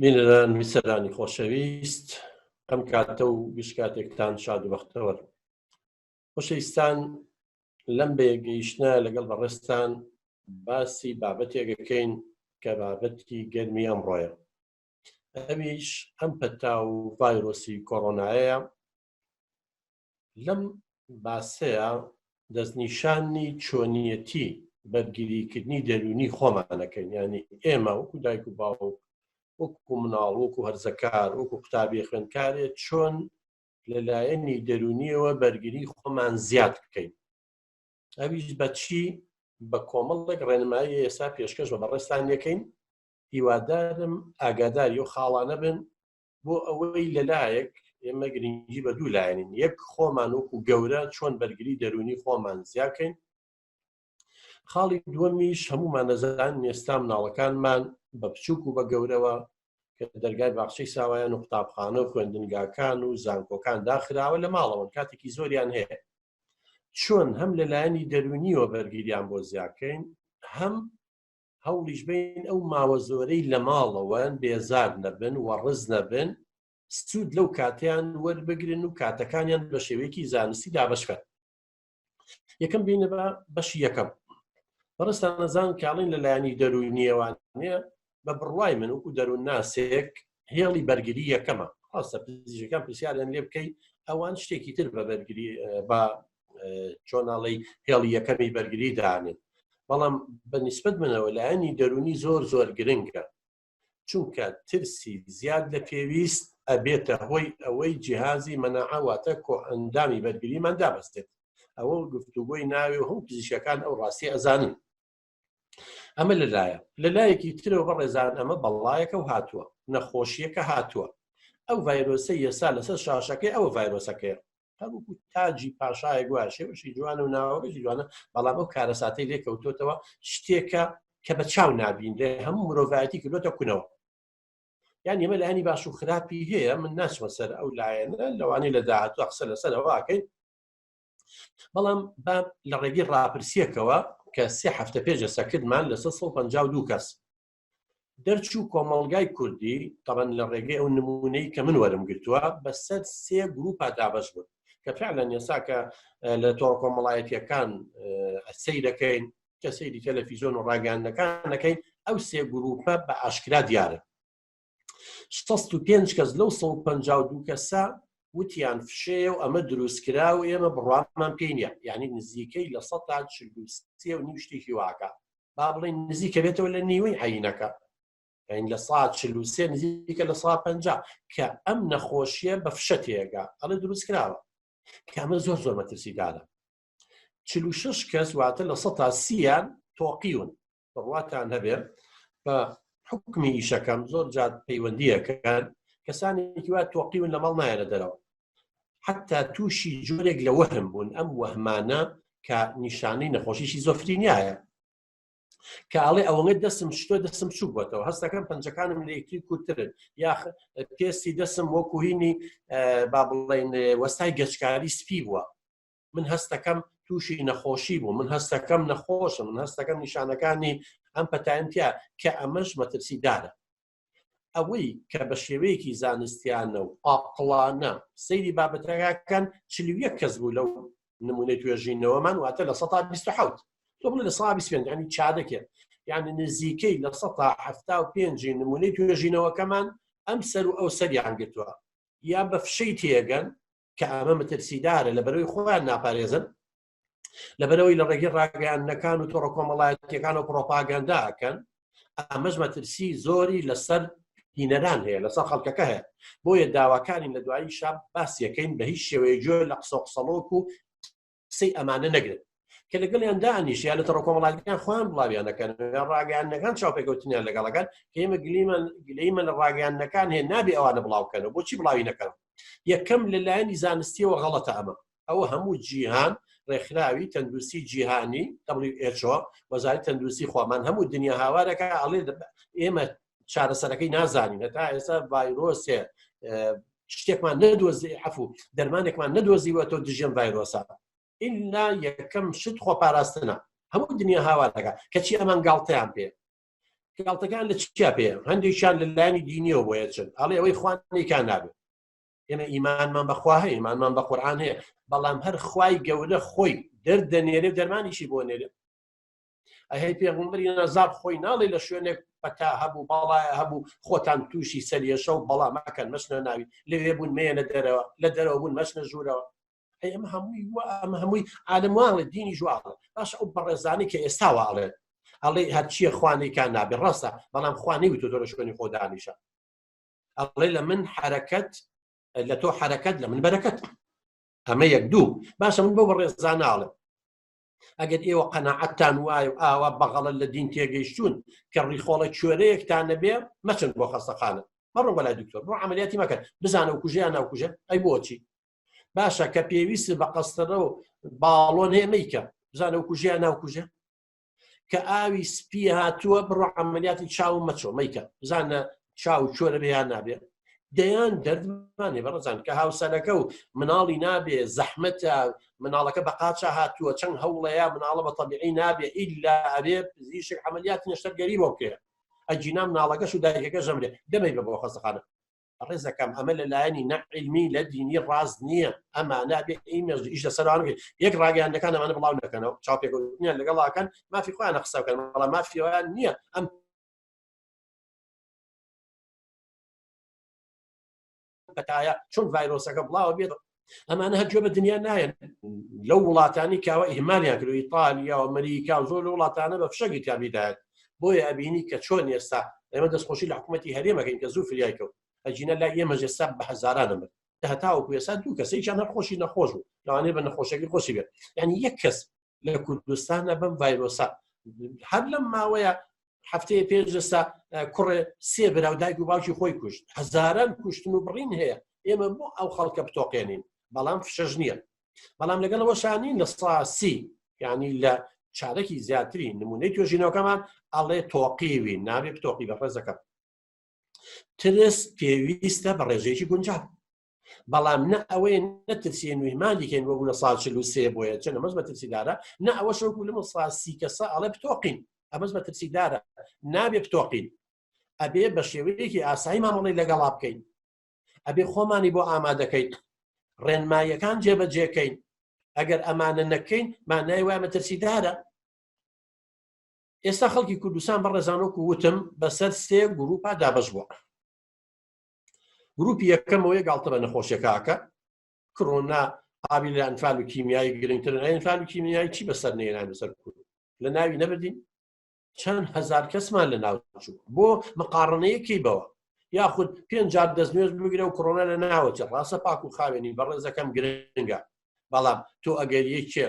بینەران میسەرانی خۆشەویست ئەم کاتە و گشتکاتێکتان شاد و بەختەوە خۆشەویستان لەم بێگەیشتە لەگەڵ بەڕێستان باسی بابەتێکەکەین کە بابەتی گەرمی ئەمڕۆیە ئەویش ئەم پەتا و ڤایرۆسی کۆرۆنایە لەم باسەیە دەستنیشاننی چۆنیەتی بەرگیریکردنی دەروونی خۆمانەکەین ینی ئێمە وەکو دایک و باوک وەکو مناڵ وەکو هەرزەکار وەکو قوتابی خوێندکارێ چۆن لەلایەنی دەرونیەوە بەرگری خۆمان زیاد بکەین ئەویش بەچی بە کۆمەڵێک ڕێنمایی ئێستا پێشکەش بە بەڕێستان یەکەین هیوادارم ئاگاداری و خاڵانە بن بۆ ئەوەی لەلایەک ئێمە گرنگی بە دوو لایەنین یەک خۆمان وەکو گەورە چۆن بەرگری دەرونی خۆمان زیاکەین خاڵی دووەمیش هەمومان نەزان نێستا مناڵەکانمان بە بچووک و بە گەورەوە کە دەرگای باخچەی ساوایان و قوتابخانە و خوێندنگاکان و زانکۆکان داخراوە لە ماڵەوەن کاتێکی زۆریان هەیە چۆن هەم لەلایەنی دەرونیەوە بەرگیریان بۆ زیاکەین هەم هەوڵیش بین ئەو ماوە زۆرەی لە ماڵەوەن بێزار نەبن و ڕز نەبن سوود لەو کاتیان وەربگرن و کاتەکانیان بە شێوەیەکی زانستی دابشکەن یەکەم بینە بە بەشی یەکەم بەڕستان نەزان کاڵین لە لایەنی دەروونیەوان نیە بە بڕوای من وکو دەروون ناسێک هێڵی بەرگری یەکەمە ڕاستە پزیشەکان پرسیاریان لێ بکەیت ئەوان شتێکی تر بە بەرگری بە چۆناڵی هێڵی یەکەمی بەرگری دانێت بەڵام بە نسبت منەوە لایەنی دەرونی زۆر زۆر گرنگە چونکە ترسی زیاد لە پێویست ئەبێتە هۆی ئەوەی جیهازی مەنەعاواتە کۆ ئەندامی بەرگریمان دابستێت ئەوە گفتوگۆی ناوێ و هەم پزیشەکان ئەو ڕاستی ئەزانن ئەمە لەلایە لە لایەکی ترەوە بە ڕێزان ئەمە بەڵایەکە و هاتووە نەخۆشیەکە هاتووە ئەو ڤایرۆسە یەسا لەسەر شاشەکەی ئەوە ڤایرۆسەکەیە هەروکو تاجی پاشایە گووە شێوشی جوانە و ناوەگەی جوانە بەڵام ئەو کارەساتەی لێکەوتوتەوە شتێکە کە بە چاو نبینرێ هەموو مرۆڤایەتی کردوتە کونەوە یان ئێمە لایانی باش و خراپی هەیە من ناچمە سەر ئەو لایەنە لەوانی لە داهاتوە قسە لەسەرەوەکەین بەڵام با لە ڕێگەی ڕاپرسیەکەوە کە سێ هەفتە پێجە سەکردمان لە 1950 کەس دەرچوو کۆمەڵگای کوردی تەبەن لە ڕێگەی ئەو نمونەی کە من وەرم گرتووە بەسەر سێ گروپا دابش بوون کە فعلا یەسا کە لە تۆڕ کۆمەڵایەتیەکان سەی دەکەین کە سەیری تەلەفیزۆن و ڕاگەاندەکانەکەین ئەو سێ گروپە بە ئاشکرا دیارە 65 کەس لەو 152 کەسە وتیان فشەیە و ئەمە دروستکرا و ئێمە بڕوامان پێینە یعنی نزیکەی لە سە تا چلوسێ و نیو شتێکی واکە با بڵین نزیکە بێتەوە لە نیوەی عینەکە ئەین لە سا چلوسێ نزیکە لە سا پ کە ئەم نەخۆشیە بە فشە تێگا ئەڵێ دروستکراوە کامە زۆر زۆر مەترسیدانە چلو شش کەس واتە لە سە تا سییان تۆقیون بڕواتان هەبێ بە حکمی ئیشەکەم زۆر جات پەیوەندیەکەکان کەسانێکی وا تۆقیون لە ماڵ نایەنە دەرەوە حتا تووشی جۆرێک لە وەهم بوون ئەم وەهمانە کە نیشانەی نەخۆشیی زۆفرینایە کاڵێ ئەوەنگە دەسم شتۆ دەسم چوو بۆتەوە هەستەکەم پنجەکانم لەکتری کوترن یاخ پێستی دەسم وەکوهینی با بڵین وەستای گەچکاری سپی بووە من هەستەکەم تووشی نەخۆشی بوو من هەستەکەم نەخۆشم من هەستەکەم نیشانەکانی ئەم پەتایمتیا کە ئەمەش مەترسی دارە ئەوەی کە بە شێوەیەکی زانستیانە و ئاقلانە سەیری بابەتەکەکەن چلیە کەس بوو لەو نمونەی توێژینەوەمان واتە لە 1970 تۆ بڵێ لە 120 ینی چا دەکێت یعنی نزیکەی لە 1970 نمونەی توێژینەوەکەمان ئەم سەر و ئەو سەریان گرتووە یا بە فشەی تێگەن کە ئەمە مەترسیدارە لە بەرەوەی خۆیان ناپارێزن لەبەرەوەی لە ڕێگەی ڕاگەیاندنەکان و تۆڕە کۆمەڵایەتەکان و پرۆپاگەنداکەن ئەمەش مەترسی زۆری لەسەر هینەران هەیە لەسەر خەڵکەکە هەیە بۆیە داواکانی لە دوایی شاب باسیەکەین بە هیچ شێوەیە جۆر لە قسە قسەڵۆک و قسەی ئەمانە نەگرن کە لەگەڵیان دانیش یا لە تەڕۆ کۆمەڵاتەکان خۆیان بڵاویانەکەن ڕاگەیانەکان چاوپێکەوتنیان لەگەڵەکان کە ئێمە گلیمان گلەیمە لە ڕاگەیانەکان هەیە نابێ ئەوانە بڵاوکەنەوە بۆچی بڵاوی نەکەن یەکەم لەلایەنی زانستیەوە غەڵەتە ئەمە ئەوە هەموو جیهان ڕێکخراوی تەندروستی جیهانی WHO وەزاری تەندروستی خۆمان هەموو دنیا هاوارەکە ئەڵێ ئێمە چارەسەرەکەی نازانین هەتا ئێستا ڤایرۆسێ شتێکمان نەدۆزی عفو دەرمانێکمان نەدۆزیوە تۆ دژێن ڤایرۆسا ئللا یەکەم شت خۆ پاراستنە هەموو دنیا هاوارەکە کەچی ئەمان گاڵتەیان پێ گاڵتەکان لە چیا پێ هەندێکیان لە لایانی دینیەوە بۆیە چن ئەڵێ ئەوەی خوانێکان نابێت ئێمە ئیمانمان بەخوا هەیە ئیمانمان بە قورآان هەیە بەڵام هەر خوای گەورە خۆی دەردەنێرێ دەرمانیشی بۆ نێرێ ئەهی پێغمبری نەزار خۆی ناڵی لە شوێنێک پەتا هەبوو باڵایە هەبوو خۆتان تووشی سەریێشە و بەڵام مەکەن مەچنە ناوی لەوێ بوون مێنە دەرەوە لە دەرەوە بوون مەچنە ژوورەوە ئەمە هەمووی ئەمە هەمووی عالم واڵێت دینی جوواڵە باش ئەو بەڕێزانی کە ئێستا واڵێت ئەڵێ هەرچیە خوانێکان نابێ ڕاستە بەڵام خوانی وتو تۆ لە شوێنی خۆدانیشە ئەڵێ لە من حرەکەت لە تۆ حرەکەت لە من بەرەکەت ئەمە یەک دوو باشە من بۆ بەڕێزانناڵم ئەگەر ئێوە قەنەعەتتان وایە و ئاوا بەغەڵت لە دین تێگەیشتون کە ڕیخۆڵە کوێرەیەکتان نەبێ مەچن بۆ خەستەخانە مەڕۆ بەلای دکتۆر بۆ عملیاتی مەکەن بزانە و کوژیان ناوکوژە ئەی بۆچی باشە کە پێویست بە قەستەرە و باڵۆن هەیە میکە بزانە و کوژیان ناوکوژە کە ئاوی سپی هاتووە بڕۆ عملیاتی چاو مەچۆ میکە بزانە چاو چۆرە بێیان نابێ دەیان دەردمانێ بەڕزان کە هاوسەرەکە و مناڵی نابێ زەحمەتە مناڵەکە بە قاچە هاتووە چەند هەوڵەیە مناڵە بە تەبیعی نابێ ئیلا ئەبێ پزیشک عملیات نەشتەرگەری بۆ بکەێ ئەجینا مناڵەکەش و دایکەکە ژەمرێ دەمەی بە بۆ خەستەخانە ڕێزەکەم ئەمە لە لایەنی نەعلمی لە دینی ڕاز نییە ئەمە نابێ ئیمێژ ئیش لە سەران یەک ڕاگەیانەکان ئەمانە بڵاو نەکەنەوە چاپێکوتنیان لەگەڵاکەن مافی خۆیان قسەکەن بەڵام مافیوان نییە ئەم پەتایە چۆن ڤایرۆسەکە بڵاوە بێت ئەمانە هەر گوێ بە دنیا نایەن لەو وڵاتانی کاوە ئیهمالیان کرد ئیتالیا و ئەمریکا و زۆر لە وڵاتانە بە فشەگی کامیدایەت بۆیە ئەبینی کە چۆن ئێستا ئێمە دەستخۆشی لە حکوومەتتی هەرێمەکەین کە زوو فریای کەوت ئەجینە لا ئێمە ژێستا بە هەزاران دەمر هەتاوەکو ێسا دوو کەسێکیان هەر خۆشی نەخۆش بوو لەوانێ بە نەخۆشەکە خۆشی بێت یعنی یەک کەس لە کوردستانە بەم ڤایرۆسە هەر لەم ماوەیە هەفتەیە پێش دەستا کوڕێ سێ براو دایک و باوکی خۆی کوشت هەزاران کوشتن و بڕین هەیە ئێمە بۆ ئەو خەڵکە بتۆقێنین بەڵام فشەش نییە بەڵام لەگەڵەوە شانین لە ساسی یعنی لە چارەکی زیاتری نمونەی توێژینەوەکەمان ئەڵێ تۆقیوی ناوێ تۆقی بە ڕێزەکەم ترس پێویستە بە ڕێژەیەکی گونجاو بەڵام نە ئەوەیە نەترسیێن نوێی مالیکێن وەگو لە سا چل و سێ بۆیە چەند ئەمەش مەترسیدارە نە ئەوە شەوەکو لەمە ساسی کەسە ئەڵێ بتۆقین ئەمەش مەترسیدارە نابێ بتۆقین ئەبێ بە شێوەیەکی ئاسایی مامەڵی لەگەڵا بکەین ئەبێ خۆمانی بۆ ئامادەکەیت ڕێنماییەکان جێبەجێکەین ئەگەر ئەمانە نەکەین مانای وای مەترسیدارە ئێستا خەڵکی کوردستان بە ڕێزانۆک وتم بەسەر سێ گروپا دابش بووە گروپی یەکەمەوەی گاڵتە بە نەخۆشیەکەکە کڕۆنا ئاوی لە ئەنفال و کیمیایی گرنگتر ئەنفال و کیمیایی چی بەسەر نێران بەسەر کورد لە ناوی نەبدین چەند هزار کەسمان لە ناو چوو بۆ مقاڕنەیەکی بەوە یاخود پێنجار دەست نوێز بگرە و کڕۆنا لە ناوەچە ڕاستە پاک و خاوێنی بەڕێزەکەم گرنگە بەڵام تۆ ئەگەر یەکێ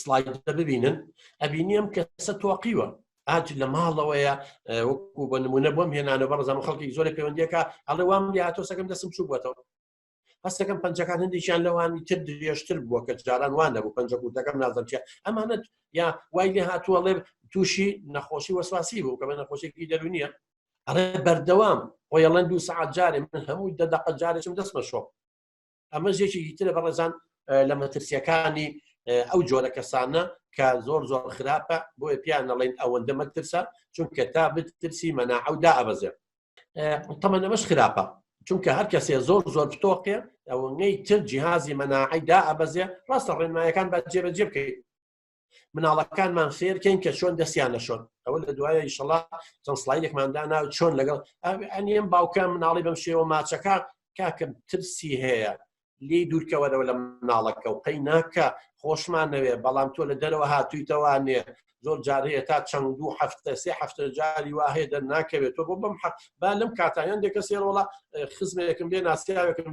سلایدە ببینن ئەبینیم کە سە تۆقیوە ئاج لە ماڵەوەیە وەکو بە نمونە بۆم هێنانە بەڕزان خەڵکی زۆر پەیوەندیەکە ئەڵێ وام لاتۆ سەکەم دەسم چوو بووەوە هەستەکەم پنجەکان هەندێکیان لەوانی تر درێژتر بووە کە جاران وان نەبوو پنج کوردەکەم نازەمچە ئەمانەت یا وای لێ هاتووە ڵێ تووشی نەخۆشی وەسواسی بوو کە بە نەخۆشێکی دەرونیە ئەڵێ بەردەوام خۆیڵەن دوو سعات جارێ من هەموو دەدەقە جارێکم دەستمە شۆ ئەمە زێکێکی ترە بەڕێزان لە مەترسیەکانی ئەو جۆرە کەسانە کە زۆر زۆر خراپە بۆیە پیان نەڵین ئەوەندە مەترسە چونکە تا بترسی مەنا ئەو دا ئەبەزێ تەمەەن ئەمەش خراپە چونکە هەر کەسێ زۆر زۆر پتۆقێ ئەوەی تر جیهازی مەناعیدا ئەبەزێ ڕاستە ڕێنمایەکان بە جێبەجێ بکەیت مناڵەکانمان فێرکەین کە چۆن دەستیان نەشۆن ئەوە لە دوایە ئیشەڵا چەند سلایلێکماندا ناو چۆن لەگەڵ ئەنیەم باوکە مناڵی بەم شێوە ماچەکە کاکەم ترسی هەیە لی دوورکەوەرەوە لە مناڵەکە و قەی ناکە خۆشمان نەوێ بەڵام تۆ لە دەرەوە هاتوویتەوانێ زۆر جار هەیە تا چەند دوو هەفتە سێ هەفتە جاری وا هەیە دەر ناکەوێت تۆ بۆ بەم حەق با لەم کاتیان دێکە سێرۆڵە خزمێکم بێ ناسیاوێکم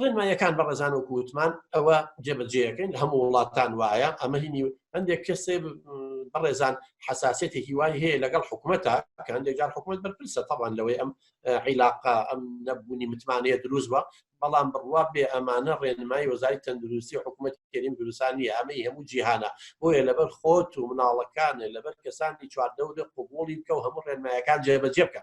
ڕێنمایەکان بە ڕێزان و کووتمان ئەوە جێبەجێەکەین لە هەموو وڵاتان وایە ئەمە هینی هەندێک کەسێ بەڕێزان حساسێتی هیوای هەیە لەگەڵ حکوومەتە کە هەندێک جار حکوومەت بەرپرسە تاوان لەوەی ئەم عیلاقا ئەم نەبوونی متمانەیە دروست بە بەڵام بڕوا بێ ئەمانە ڕێنمای وەزاری تەندروستی حکوومەت کردیم دروستانی ئەمەی هەموو جیهانە بۆیە لەبەر خۆت و مناڵەکانە لەبەر کەسانی چواردەورە قوبولی بکە و هەموو ڕێنمایەکان جێبەجێ بکە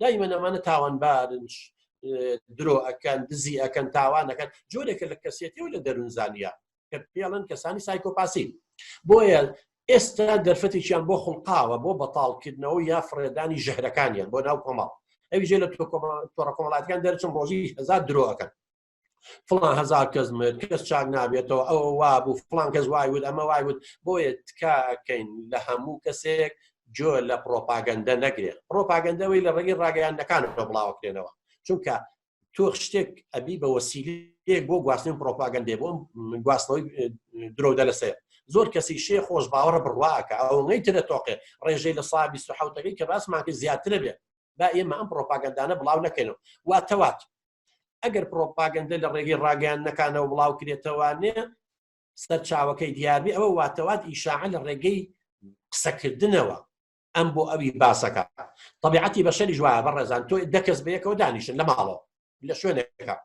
دایمەن ئەمانە تاوانبارن درۆ ئەکەن دزی ئەکەن تاوانەکەن جۆرێکە لە کەسێتی و لە دەروونزانیا کە پێڵن کەسانی سایکۆپاسی بۆیە ئێستا دەرفەتێکیان بۆ خڵقاوە بۆ بەتاڵکردنەوە یا فڕێدانی ژەهرەکانیان بۆ ناو کۆمەڵ ئەوی ژێ لە تۆڕە کۆمەڵاتەکان دەرچم ڕۆژی هزار درۆەکەن فڵان هزار کەس مرد کەس چاک نابێتەوە ئەوە وابوو فڵان کەس وای وت ئەمە وای وت بۆیە تکاکەین لە هەموو کەسێک جۆ لە پرۆپاگەندە نەگرێت پرۆپاگەندەوەی لە ڕێگەی ڕاگەیاندەکان بڵاوکرێنەوە چونکە تۆ شتێک ئەبی بە وەسیلەیەک بۆ گواستن پرۆپاگەندێ بۆم گواستنەوەی درۆدە لەسەر زۆر کەسی شێ خۆش باوەڕە بڕواکە ئەوەی ترە تۆقێ ڕێژەی لە سابی سوحوتەکەی کە باسماکە زیاترە بێت با ئێمە ئەم پرۆپاگەندانە بڵاو نەکەینەوە واتەوات ئەگەر پرۆپاگەندە لە ڕێگەی ڕاگەیاندنەکانەوە بڵاو کرێتەوانێ سەرچاوەکەی دیاربی ئەوە واتەوات ئیشاعە لە ڕێگەی قسەکردنەوە ئەم بۆ ئەوی باسەکە طبیعەتی بەشەری جوایە بە ڕێزان تۆ دەکەس بەیەکەوە دانیشن لە ماڵەوە لە شوێنەکە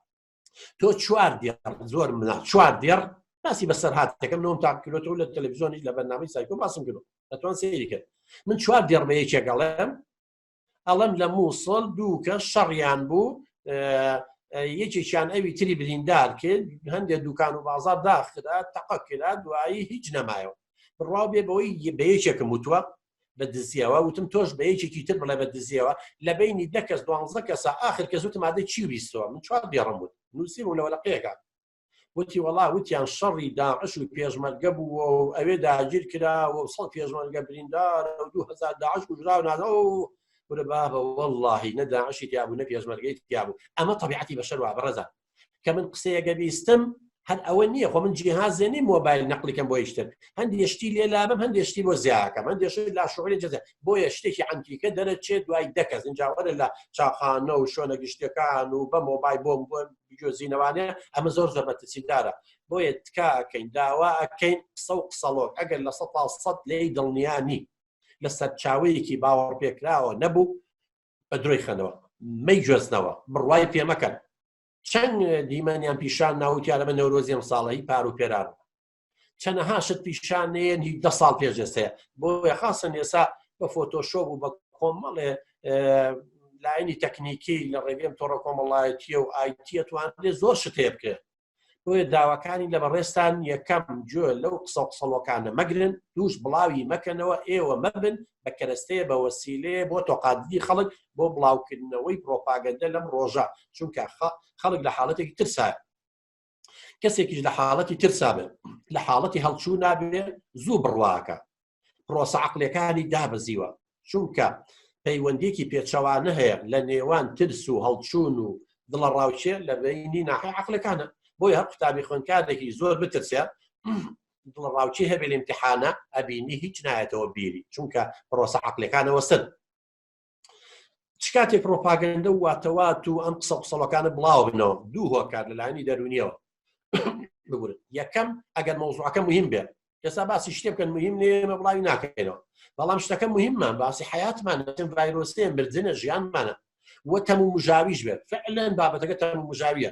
تۆ چوار دێڕ زۆر منە چوار دێڕ باسی بەسەر هاتەکەم نۆم تاکرۆتەوە لە تەلەڤزیۆنی لە بەرنامەی سایکۆ باسم کرد دەتوان سەیری کرد من چوار دێڕ بە یەکێکەڵێم ئەڵم لە مووسڵ دوو کەس شەڕیان بوو یەکێکیان ئەوی تری بریندار کرد هەندێک دوکان و بازار داخرا تەقە کرا دوایی هیچ نەمایەوە بڕوا بێ بەوەی بە یەکێکم وتوە بە دزیەوە وتم تۆش بە یەکێکی تر بڵێ بە دزیەوە لە بینی دەکەس دوانزە کەسە آخر کە زوتمادە چی ویستەوە من چوار دێڕم بوو نووسیم و لەوەلقەیەەکە وتی وەڵا وتیان شەڕی داعش و پێشمەرگە بوو و ئەوێ داگیر کرا و سەڵ پێشمەرگە بریندار و دو هزار داعش کوژراو نازە و ورە بابە واللهی نە داعشی تیابوو نە پێشمەرگەی تیابوو ئەمە طبیعەتی بەشەر وا بەڕێزە کە من قسەیەگە بیستم هەر ئەوە نییە خۆ من جیهازێ نی مۆبایل نەقلەکەم بۆ یشتر هەندی شتی لێ لابم هەندێ شتی بۆ زیاکەم هەندێ شتی لا شعوری جزە بۆیە شتێکی عەمتیکە دەرەچێت دوای دەکەس اینجاوەرە لە چاخانە و شوێنە گشتەکان و بە مۆبای بۆم بۆم بجۆزینەوانێ ئەمە زۆر زۆر مەترسیدارە بۆیە تکاکەین داوا ئەکەین قسە و قسەڵۆک ئەگەر لە سە تا سەد لێی دڵنیانی لە سەرچاوەیەکی باوەڕ پێکراوە نەبوو بە درۆی خەنەوە مەی گوێزنەوە بڕوای پێمەکەن چەند دیمەنیان پیشان ناوتیانە بە نەورۆزیێم ساڵی پار و پێران چەنەها شت پیشانەیەن هی دە ساڵ پێش ئێستەیە بۆ خاصن ئێسا بە فۆتۆشۆ بوو بە کۆمەڵێ لایەنی تەکنیکی لە ڕێگەم تۆڕە کۆمەڵایەتیە و ئایتیە توانێت زۆر شتێ بکرێت بۆیە داواکانی لە بەڕێستان یەکەم جۆ لەو قسە قسەڵۆکانە مەگرن دووش بڵاوی مەکەنەوە ئێوە مەبن بە کەرەستەیە بە وەسیلەیە بۆ تۆقادی خەڵک بۆ بڵاوکردنەوەی پرۆپاگەندە لەم ڕۆژە چونکە خەڵک لە حاڵەتێکی ترسایە کەسێکیش لە حاڵەتی ترسا بێت لە حاڵەتی هەڵچوو نابێت زوو بڕواکە پرۆسە عقلەکانی دابەزیوە چونکە پەیوەندێکی پێچەوانە هەیە لە نێوان ترس و هەڵچوون و دڵە ڕاوچێ لە بینی ناحی عقلەکانە بۆی هەر قوتابی خوێنکارێکی زۆر بترسێت دڵە ڕاوچی هەبێ لە امتحانە ئەبینی هیچ نایەتەوە بیری چونکە پرۆسە عقلەکانەوە سن چ کاتێک پرۆپاگەندە و واتەوات و ئەم قسە قسەڵەکانە بڵاو بنەوە دوو هۆکار لەلایانی دەرونیەوە بگورن یەکەم ئەگەر مەوزوعەکە مهم بێت ئێستا باسی شتێ بکەن مهم نێمە بڵاوی ناکەینەوە بەڵام شتەکە مهممان باسی حیاتمان چەند ڤایرۆسێ مردنە ژیانمانە وە تەمو مژاویش بێت فعلەن بابەتەکە تەمو مژاویە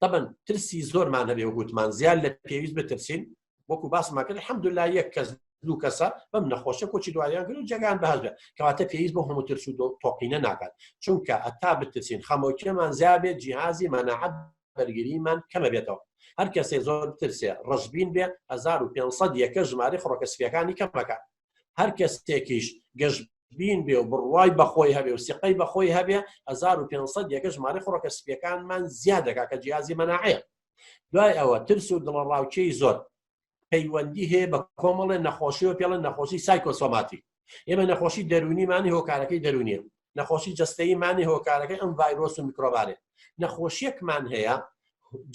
تەبەن ترسی زۆرمان هەبێ وگوتمان زیاد لە پێویست بترسین وەکو باسماکرد حەمد لا یەک کەس دوو کەسە بەم نەخۆشە کۆچی دوایان گرو جگان بەهزە کەواتە پێویست بۆ هەموو ترس و تۆقینە ناکات چونکە ئەتا بترسین خەمۆکیەمان زیابێت جیهازی مەناعەت بەرگریمان کەمە بێتەوە هەر کەسێ زۆر ترسێ ڕژبین بێ 1500 یەکە ژماری خڕۆکە سپیەکانی کەمەکە هەر کەسێکیش گەشت بین بێ و بڕوای بەخۆی هەبێ و سیقەی بەخۆی هەبێ 1500 یەکە ژمارە خڕۆکە سپیەکانمان زیاد دەکا کە جیازی مەناعەیە دوای ئەوە ترس و دڵەڕاوکێی زۆر پەیوەندی هەیە بە کۆمەڵێ نەخۆشی و پێڵە نەخۆشی سایکۆسۆماتی ئێمە نەخۆشی دەرونیمانی هۆکارەکەی دەرونیە نەخۆشی جستەیمانی هۆکارەکەی ئەم ڤایرۆس و میکرۆبارێ نەخۆشیەکمان هەیە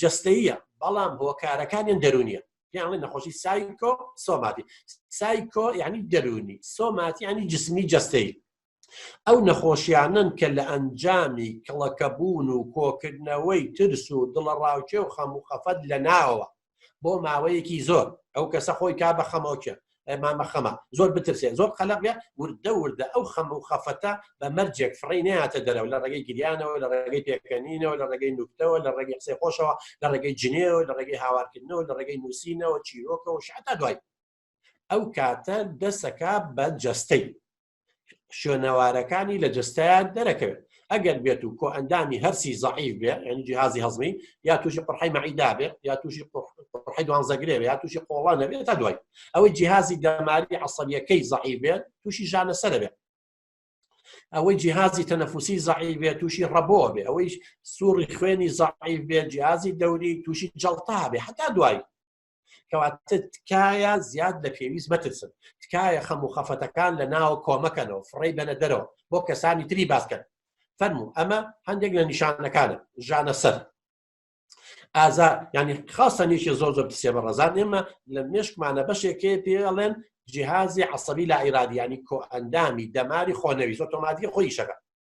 جستەیە بەڵام هۆکارەکانیان دەرونیە یاڵی نەخۆشی سایکۆ سۆماتی سایکۆ یعنی دەرونی سۆماتی ینی جسمی جەستەی ئەو نەخۆشیانن کە لە ئەنجامی کڵەکەبوون و کۆکردنەوەی ترس و دڵەڕاوکێ و خەم و خەفەت لە ناوە بۆ ماوەیەکی زۆر ئەو کەسە خۆی کا بە خەمۆکە مامە خەمە زۆر بترسێن زۆر قەلەقە وردە وردە ئەو خەم و خەفەتە بە مەرجێک فڕی ناتە دەرەوە لە ڕێگەی گریانەوە لە ڕێگەی پێکەنینەوە لە ڕێگەی نوکتەوە لە ڕێگەی قسەی خۆشەوە لە ڕێگەی جنێەوە لە ڕێگەی هاوارکردنەوە لە ڕێگەی نووسینەوە چیرۆکەوە شعتا دوای ئەو کاتە دەسەکە بە جەستەی شوێنەوارەکانی لە جستیان دەرەکەوێت ئەگەر بێت و کۆ ئەندامی هەرسی زعیف بێ ینی جیهازی هەزمی یا تووشی قڕحی مەعیدا بێ یا تووشی قڕحی دوانزەگرێ یا تووشی قۆڵان نەبێت تا دوای ئەوەی جیهازی دەماری عسەبیەکەی زعیف بێت تووشی ژانە سەر بێت ئەوەی جیهازی تەنەفوسی زعیف بێت تووشی ڕەبۆ بێ ئەوەی سوڕی خوێنی زعیف بێت جیازی دەوری تووشی جڵتا بێ حتا دوای کەواتە تکایە زیاد لە پێویست مەترسن تکایە خەم و خەفەتەکان لە ناو کۆمەکەنەوە فڕی بەنە دەرەوە بۆ کەسانی تری باسکەن فەرمو ئەمە هەندێک لە نیشانەکانە ژانە سەر ئازا ینی خاستە نیشی زۆر زۆر پسێ بە ڕزان ئێمە لە مێشکمانە بەشێکێ پێڵێن جیهازی عسەبی لە ئیرادیانی کۆ ئەندامی دەماری خۆنەویست تۆماتی خۆی شەکە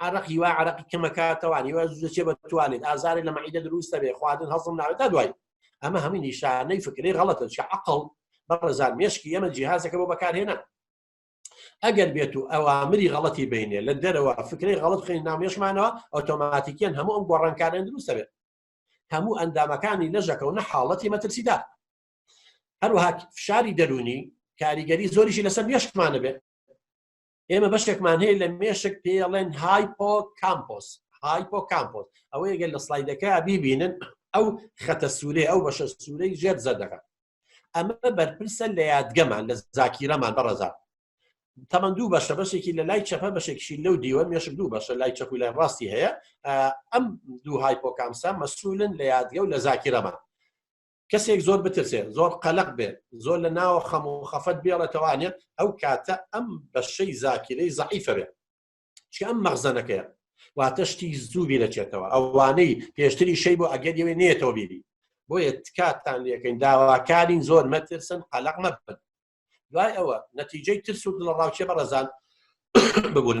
عرق هیوا عرقی کەمەکاتەوان هیوا زوچێ بە توانێت ئازارێ لە مەعیدە دروستە بێ خواردن هەڵسم ناوێت تا دوای ئەمە هەمووی نیشانەی فکری غەڵەتە چ عقل بەڕێزان مێشکی ئەمە جیهازەکە بۆ بەکارهێنا ئەگەر بێت و ئەوامری غەڵەتی بینێ لە دەرەوە فکری غەڵت خوێن نامێشمانەوە ئۆتۆماتیکیان هەموو ئەم گۆڕانکارێن دروستە بێت هەموو ئەندامەکانی لەژەکە و نە حاڵەتی مەترسیدا هەروها فشاری دەرونی کاریگەری زۆریشی لەسەر مێشکمانە بێت ئێمە بەشێکمان هەیە لە مێشک پێڵێن هایپۆ کامپۆس هایپۆ کامپۆس ئەوەیە گەل لە سلایدەکە بیبینن ئەو خەتە سوورێ ئەو بەشە سوورەی ژێر زەردەکە ئەمە بەرپرسە لە یادگەمان لە زاکیرەمان بەڕزا تەمەند دوو بەشە بەشێکی لە لای چەپە بەشێکشی لەو دیوە مێشک دوو بەشە لای چەپ و لای ڕاستی هەیە ئەم دوو هایپۆکامسە مەسولن لە یادگە و لە زاکیرەمان کەسێک زۆر بترسێ زۆر قەلق بێت زۆر لە ناوە خەم و خەفەت بێڵێتەوانێت ئەو کاتە ئەم بەشەی زاکیرەی زعیفە بێت چکە ئەم مەغزەنەکەیە واتە شتی زوو بیرەچێتەوە ئەوانەی پێشتری شەی بۆ ئەگەر یەوێ نێتەوە بیری بۆیە تکاتان لەکەین داواکارین زۆر مەترسن قەلق مەبن دوای ئەوە نەتیجەی ترس و دڵە ڕاوچێ بەڕزان ببوون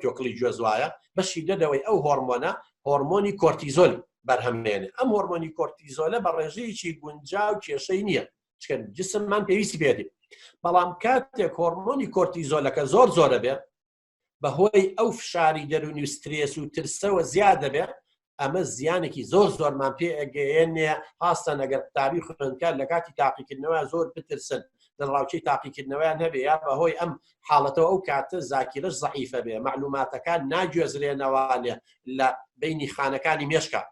توکڵی گوێز وایە بەشی دەدەوەی ئەو هۆرمۆنە هۆرمۆنی کۆرتیزۆل بەرهەمێنێ ئەم هۆرمۆنی کۆرتیزۆلە بە ڕێژەیەکی گونجا و کێشەی نییە چکەن جسممان پێویستی بێتی بەڵام کاتێک هۆرمۆنی کۆرتیزۆلەکە زۆر زۆرە بێ بەهۆی ئەو فشاری دەرونی و سترێس و ترسەوە زیاد دەبێ ئەمە زیانێکی زۆر زۆرمان پێ ئەگەیەنێ هاستان ئەگەر قوتابی خوێندکار لە کاتی تاقیکردنەوە زۆر بترسن لە ڕاوچەی تاقیکردنەوەیان هەبێ یا بەهۆی ئەم حاڵەتەوە ئەو کاتە زاکیرش زعیفە بێ معلوماتەکان ناگوێزرێنەوانێ لە بینی خانەکانی مێشکە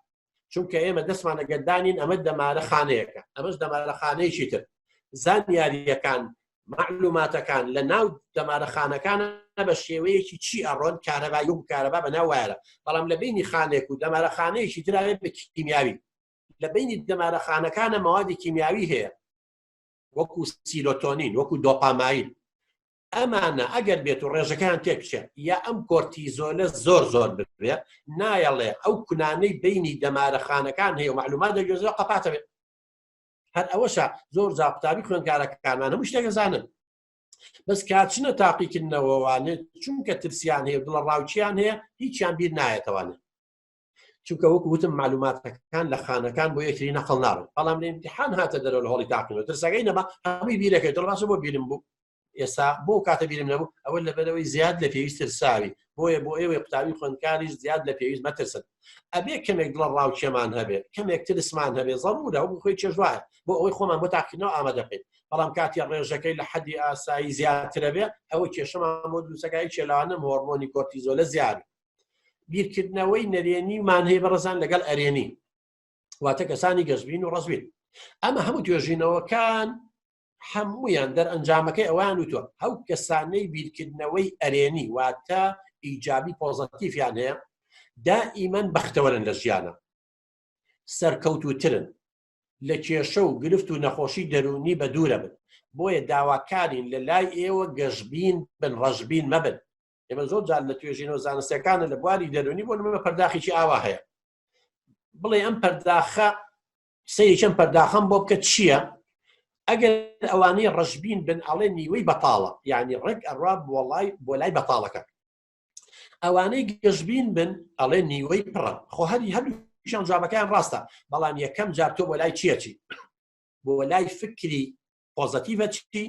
چونکە ئێمە دەستمان ئەگەردانین ئەمە دەمارە خانەیەەکە ئەمەش دەمارە خانەیەکی تر زانیاریەکان معلوماتەکان لە ناو دەمارە خانەکانە بە شێوەیەکی چی ئەڕۆن کارەبای و کارەبا بە ناو وایرە بەڵام لە بینی خانێک و دەمارە خانەیەکی دراوێت بە کیمیاوی لە بینی دەمارە خانەکانە مەوادی کیمیاوی هەیە وەکو سیرۆتۆنین وەکو دۆپامایل ئەمانە ئەگەر بێت و ڕێژەکان تێکچێت یا ئەم کۆرتیزۆلە زۆر زۆر ببێت نایەڵێ ئەو کونانەی بینی دەمارە خانەکان هەیە و معلومات دەگوێزەوە قەپاتەوێت هەر ئەوەشە زۆر جا قوتابی خوێندکارەکانمان هەموو شتێک دەزانن بەس کاچنە تاقیکردنەوەوانێت چونکە ترسیان هەیە بڵە ڕاوچیان هەیە هیچیان بیر نایەتەوانێت چونکە وەک وتم معلوماتەکان لە خانەکان بۆ یەکری نەقل ناون بەڵام لە امتحان هاتە دەرەوە لە هەڵی تاقیەوە ترسەکەی نەما هەمووی بیرەکەی دڵڕاستە بۆ بیرم بوو ئێستا بۆ کاتە بیرم نەبوو ئەوە لەبەرەوەی زیاد لە پێویست ترساوی بۆیە بۆ ئێوەی قوتابی خوێندکاریش زیاد لە پێویست مەترسن ئەبێ کەمێک دڵە ڕاوچێمان هەبێت کەمێک ترسمان هەبێت ضرورە و خۆی چێژوایە بۆ ئەوەی خۆمان بۆ تاقینەوە ئامادە بکەین بەڵام کاتی ڕێژەکەی لە حەدی ئاسایی زیاترە بێ ئەوە کێشەمان بۆ دووسەکای چێلاوانم هۆرمۆنی کۆرتیزۆلە زیاد بیرکردنەوەی نەرێنی مان هەیە بەڕزان لەگەڵ ئەرێنی واتە کەسانی گەشبین و ڕزبین ئەمە هەموو توێژینەوەکان هەمویان دەرئەنجامەکەی ئەوان و تۆ ئەو کەسانەی بیرکردنەوەی ئەرێنی واتە ئیجابی پۆزەتیفیان هەیە دائیمەن بەختەوەرن لە ژیانە سەرکەوتوترن لە کێشە و گرفت و نەخۆشی دەرونی بە دوورە بن بۆیە داواکارین لە لای ئێوە گەشببین بن ڕەشببین مەبن ئێمە زۆر جار لە توێژینەوە زانستەکانە لە بواری دەرونی بۆ نمە پەرداخێکی ئاوا هەیە بڵێ ئەم پەرداخە سەیری چەند پەرداخەم بۆ بکە چییە؟ ئەگەر ئەوانەی ڕەشبین بن ئەڵێ نیوەی بەتاڵە یعنی ڕێک ئەڕا بۆڵای بۆ لای بەتاڵەکە ئەوانەی گەشبین بن ئەڵێ نیوەی پڕە خۆ هەری هەر شان جوابەکەیان ڕاستە بەڵام یەکەم جار تۆ بۆ لای چیەتی بۆ لای فکری پۆزەتیڤە چی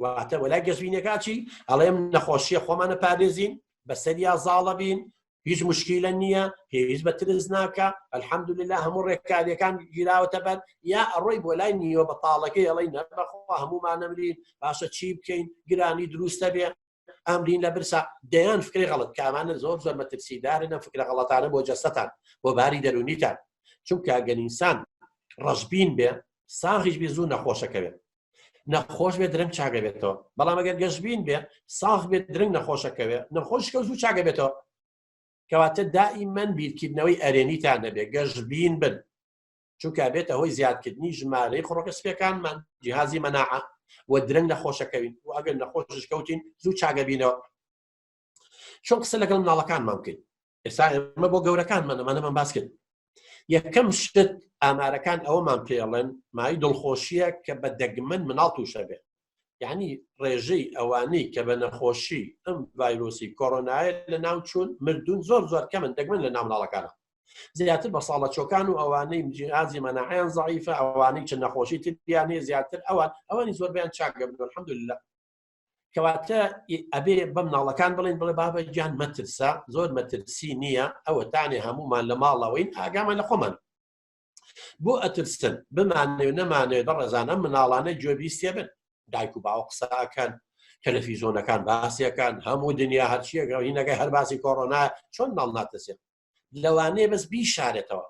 واتە وەلای گەشبینەکە چی ئەڵێم نەخۆشیە خۆمانە پارێزین بەسەریا زاڵە بین هیچ مشکیلە نییە هیچ بە ترس ناکە ئەلحەمدللا هەموو ڕێکاریەکان گیراوەتە بەر یا ئەڕۆی بۆ لای نیوە بەتاڵەکەی ئەڵی نەبخوا هەموومانەمرین باشە چی بکەین گرانی دروستە بێ ئەمرین لە برسا دەیان فکری غەڵت کامانە زۆر زۆر مەترسیدارن ئەم فکرە غەڵەتانە بۆ جەستەتان بۆ باری دەرونیتان چونکە گەنیسان ڕەشبین بێ ساغیش بێ زوو نەخۆشەکەوێت نەخۆش بێ درنگ چاگەبێتەوە بەڵام ئەگەر گەشبین بێ ساغ بێت درنگ نەخۆشەکەوێ نەخۆشکە زوو چاگەبێتەوە کەواتە دائیمەن بیرکردنەوەی ئەرێنیتان نەبێ گەشبین بن چونکە بێتە هۆی زیادکردنی ژمارەی خڕۆکە سپەکانمان جیهازی مەناعە و درەنگ نەخۆشەکەوین و ئەگەر نەخۆش کەوتین زوو چاگەبینەوە چۆن قسە لەگەڵ مناڵەکانمان بکەین ئێستا ئێمە بۆ گەورەکان منەمانەمان باس کرد یەکەم شت ئامارەکان ئەوەمان پێڵێن مای دڵخۆشیە کە بە دەگمەن مناڵ تووشە بێت یعنی ڕێژەی ئەوانەی کە بە نەخۆشی ئەم ڤایرۆسی کۆرۆنایە لە ناو چوون مردون زۆر زۆر کەمن دەگمن لە نامناڵەکانە زیاتر بە ساڵە چۆکان و ئەوانەی جیازی مەناحیان زعیفە ئەوانەی چ نەخۆشی تریانێ زیاتر ئەوان ئەوانی زۆربیان چاکگە بن حمد لە کەواتە ئەبێ بەم ناڵەکان بڵین بڵێ بابە گیان مەترسا زۆر مەترسی نییە ئەوە تانێ هەمومان لە ماڵەوەین ئاگامان لە خۆمان بۆ ئەترسن بمانێ و نەمانێ بە ڕێزانە مناڵانە جۆبیستێ بن دایک و باوە قساکەن تەلەفیزۆنەکان باسیەکان هەموو دنیا هەرچیەکە هینەکەی هەر باسی کۆرۆنا چۆن ماڵ ناتەسێت لەوانەیە بەس بیشارێتەوە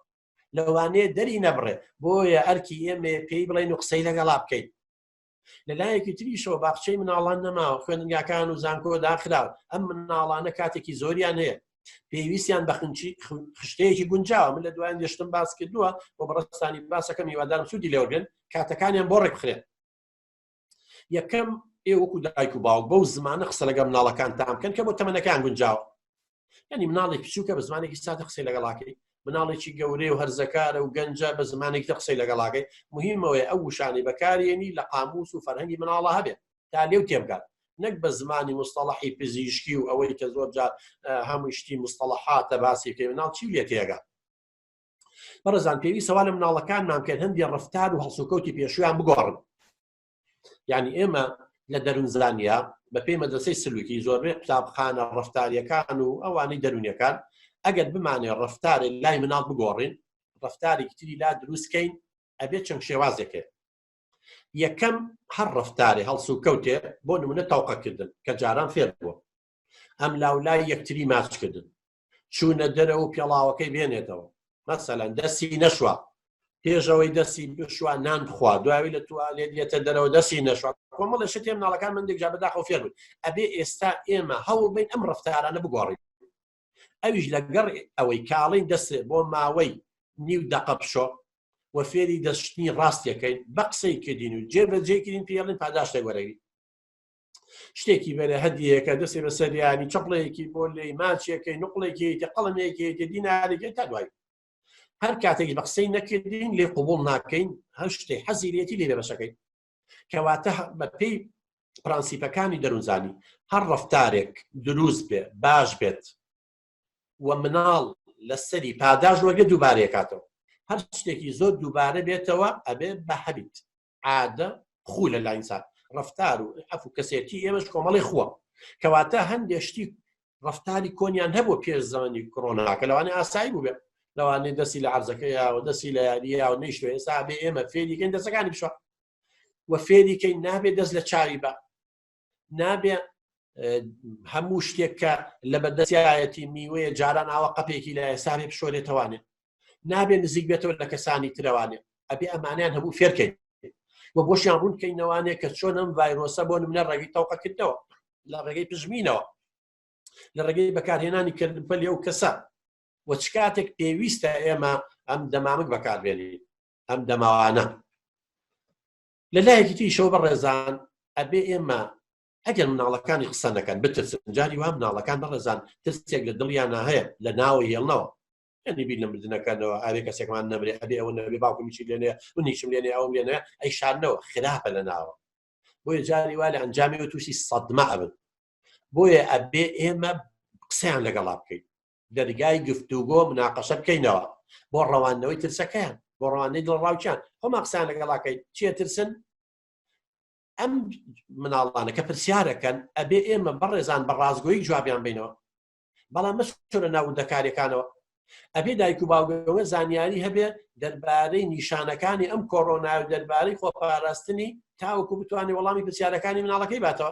لەوانەیە دەری نەبڕێت بۆیە ئەرکی ئێمە پێی بڵێن و قسەی لەگەڵا بکەیت لە لایەکی تریشەوە باخچەی مناڵان نەماوە خوێنگاکان و زانکۆ داخراو ئەم مناڵانە کاتێکی زۆریان هەیە پێویستیان بە خنچی خشتەیەکی گونجاوە من لە دوایان گەشتم باس کردووە بۆ بەڕستانی باسەکەم هیوادارم سوودی لێوەگرن کاتەکانیان بۆ ڕێکخرێن یەکەم ئێوەکو دایک و باوک بەو زمانە قسە لەگەم ناڵەکانتان بکەن کە بۆ تەمەنەکان گونجاوە ینی مناڵێک بچووکە بە زمانێکی سادە قسەی لەگەڵاکەی مناڵێکی گەورەی و هەرزەکارە و گەنجە بە زمانێک دە قسەی لەگەڵاکەی مهمەوەی ئەو وشانی بەکارێنی لە قاموس و فەرهەنگی مناڵە هەبێت تا لێو تێبگات نەک بە زمانی مستەڵحی پزیشکی و ئەوەی کە زۆر جار هەموو شتی مستەڵحاتە باسی پێ مناڵ چی لێ تێگات بەڕزان پێوی سەوا لە مناڵەکانمان کرد هەندی ڕفتار و هەڵسوکەوتی پێشویان بگۆڕن یانی ئێمە لە دەرون زانیا بە پێی مەدرسەی سلوکی زۆربەی قوتابخانە ڕفتاریەکان و ئەوانەی دەرونیەکان ئەگەر بمانێ ڕفتارێ لای مناڵ بگۆڕین ڕفتاری کتری لا دروستکەین ئەبێ چەند شێوازێکێ یەکەم هەر ڕفتارێ هەڵسوکەوتێ بۆ نمونە تاوقەکردن کە جاران فێر بووە ئەم لاولای یەکتری ماچکردن چوونە دەرە و پێڵاوەکەی بێنێتەوە مەسەلەن دەستی نەشوە پێشەوەی دەستی بشوە نان بخوا دوایی لە توالێت یەتە دەرەوە دەستی نەشوە کۆمەڵە شتێ مناڵەکان من دێکجا بەداخۆ فێر بوون ئەبێ ئێستا ئێمە هەوڵ بین ئەم ڕفتارانە بگۆڕین ئەویش لەگەڕ ئەوەی کاڵین دەست بۆ ماوەی نیو دەقە بشۆ و فێری دەستشتنی ڕاستیەکەین بە قسەی کردین و جێبەجێکردین پێڵین پاداشتێک وەرەوی شتێکی بەێ هەدیەکە دەسێ بە سەریانی چپڵەیەکی بۆ لێ ماچێکەکەی نقلێکی تە قەڵمێکی تە دینارێکی تا دوای هەر کاتێک بە قسەی نەکردین لێ قوبول ناکەین هەر شتێک حەزیرێتی لێ بەشەکەی کەواتە بە پێی پرەنسیپەکانی دەروزانی هەر ڕفتارێک دروست بێ باش بێت و مناڵ لەسەری پاداش وەگە دووبارەکاتەوە هەر شتێکی زۆر دووبارە بێتەوە ئەبێ بە هەبیت عادە خو لە لاینسات ڕفتار و ئەف و کەسێتی ئێمەش کۆمەڵی خووە کەواتە هەندێ شتی ڕفتاری کۆنیان هەبوو پێش زمانی کۆناکە لەوانێ ئاسایی بووێت لەوانێ دەستی لە عرزەکە یاوە دەستی لە یاریە و نیشتوە ئێستا بێ ئێمە فێریکەین دەسەکانی بشە وە فێریکەین نابێت دەست لە چاوی بە نابێ هەموو شتێک کە لە بەدەسیایەتی میوەیە جاران ئاوە قەپێکی لە ئێساێ پشۆرێتەوانێ نابێ نزیک بێتەوە لە کەسانی ترەوانێ ئەبێ ئەمانیان هەموو فێرکەین و بۆشیان ڕوون کەینەوانێ کە چۆن ئەم ڤایرۆسە بۆ منە ڕێگەی تەوقەکردەوە لە ڕێگەی پژمینەوە لە ڕێگەی بەکارهێنانی کردن پەلی ئەو کەسە و چ کاتێک پێویستە ئێمە ئەم دەمامک بەکاربێنین ئەم دەماوانە لە لایەکی تریشەوە بەڕێزان ئەبێ ئێمە ئەگەر مناڵەکانی قسە نەکەن بترسن جاری وا مناڵەکان بەڕێزان ترسێک لە دڵیانە هەیە لە ناوە هێڵنەوە یعنی بیر لە مردنەکانەوە ئاوێ کەسێکمان نەبرێ ئەبێ ئەوە نەبێ باوکمیشی لێنێ منیشم لێنێ ئەوم لێنێ ئەی شارنەوە خراپە لە ناوە بۆیە جاری وا لە ئەنجامی و تووشی سەدمە ئەبن بۆیە ئەبێ ئێمە قسەیان لەگەڵا بکەین دەرگای گفتوگۆ مناقەشە بکەینەوە بۆ ڕەواندنەوەی ترسەکەیان بۆ ڕوانەی دڵڕاوچیان خۆما قسان لەگەڵاکەی چیە ترسن ئەم مناڵانەکە پرسیارەکەن ئەبێ ئێمە بەڕێزان بە ڕازگۆی جوابیان بینەوە بەڵام مەش لە ناودەکارەکانەوە ئەبێ دایک و باوگەوە زانیاری هەبێ دەربارەی نیشانەکانی ئەم کۆرۆنا و دەربارەی خۆپاراستنی تاوەکو بتوانێت وەڵامی پرسیارەکانی مناڵەکەی باتەوە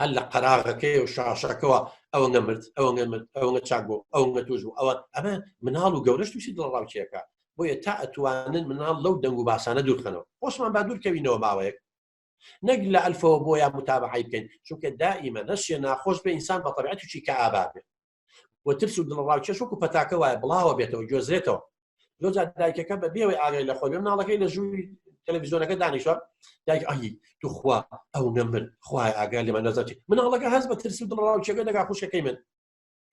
هەر لە قەراغەکەی و شاشەکەەوە ئەوە نەمرد ئەوە نەمرد ئەوە چاک بۆ ئەو نەتوش و ئەوە ئەمە مناڵ و گەورەش تووشی دڵڕاوچیەکە بۆیە تا ئەتوانن مناڵ لەو دەنگ و باسانە دوورخەنەوە خۆشمان با دوورکەوینەوە ماوەیەک نەک لە ئەلفەوە بۆیان متابعی بکەین چونکە دائیمە نەشیە ناخۆش بە ئینسان بە طبعەتیی کە ئابابێت و ترس و دڵڕاوکێش وەکو پەتاکە وایە بڵاوە بێتەوە گوێزرێتەوە لۆجا دایکەکە بە بێوەی ئاگای لە خۆی مناڵەکەی لە ژووی تەلەڤزیۆنەکە دانیشە دایک ئەهی توخوا ئەو نەمر خوای ئاگای لەمە نەزەتی مناڵەکە هەز بە ترس و دڵڕاوکێگە دەگا خوشەکەی من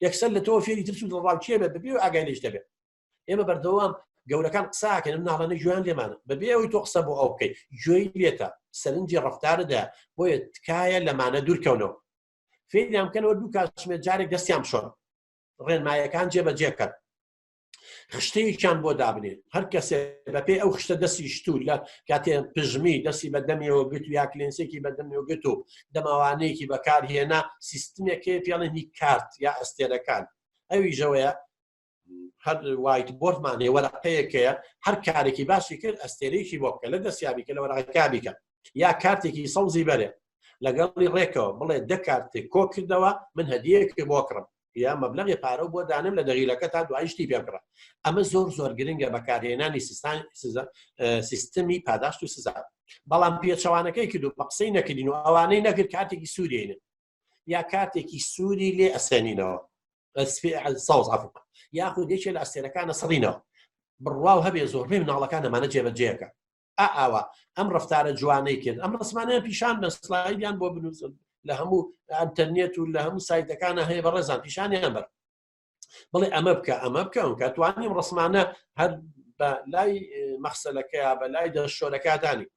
یەکسەر لە تۆ فێری ترس و دڵڕاوکێ بێت بەبێ ئاگای لەش دەبێت ئێمە بەردەوام گەورەکان قساکەن ناڵانە جوان لێمان بەبێ ئەوی تۆ قسە بۆ ئەو بکەیت گوێی لێتە سەرنجی ڕفتاردا بۆیە تکایە لەمانە دوورکەونەوە فێریان بکەنەوە دوو کاتژمێر جارێک دەستیان شۆن ڕێنمایەکان جێبەجێ بکەن خشتەیەکیان بۆ دابنێن هەر کەسێ بەپێ ئەو خشتە دەستی شتور لە کاتێ پژمی دەستی بە دەمیەوە گوت یا کلێنسێکی بە دەمیەوە گوت و دەماوانەیەکی بەکارهێنا سیستمێکێ پێڵێنی کارت یا ئەستێرەکان ئەوی ژەوەیە هەر وایت بۆردمان هەیە وەرەقەیەکەیە هەر کارێکی باشی کرد ئەستێرێکی بۆ بکە لە دەستیابی کە لە وەرەکە بیکە یا کارتێکی سەوزی بەرێ لەگەڵی ڕێکەوە بڵێ دەکارتێک کۆ کردەوە من هەدیەکی بۆ کڕم یا مەبلغی پارە بۆ دانم لە دەغیلەکە تا دوایشتی پێکڕە ئەمە زۆر زۆر گرنگە بەکارهێنانی سیستان سیستمی پاداشت و سزا بەڵام پێچەوانەکەی کردو بە قسەی نەکردین و ئەوانەی نەکرد کاتێکی سوورێنن یا کاتێکی سووری لێ ئەسێنینەوە ساوز ئەف یاخود یەکێ لە ئەستێرەکانە سڕینەوە بڕواو هەبێ زۆربەی مناڵەکان ئەمانە جێبەجێەکە ئاوا ئەم ڕفتارە جوانەی کرد ئەم ڕسمانیان پیشان بە سلایدیان بۆ بنووسن لە هەموو ئەتەرنێت و لە هەموو سایتەکانە هەیە بە ڕێزان پیشانیان بەر بڵێ ئەمە بکە ئەمە بکە ئەم کە توانیم ڕسمانە هەر بە لای مەخسەلەکەیا بە لای دەشۆرەکاتانی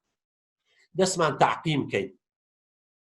دەستمان تاقیم بکەین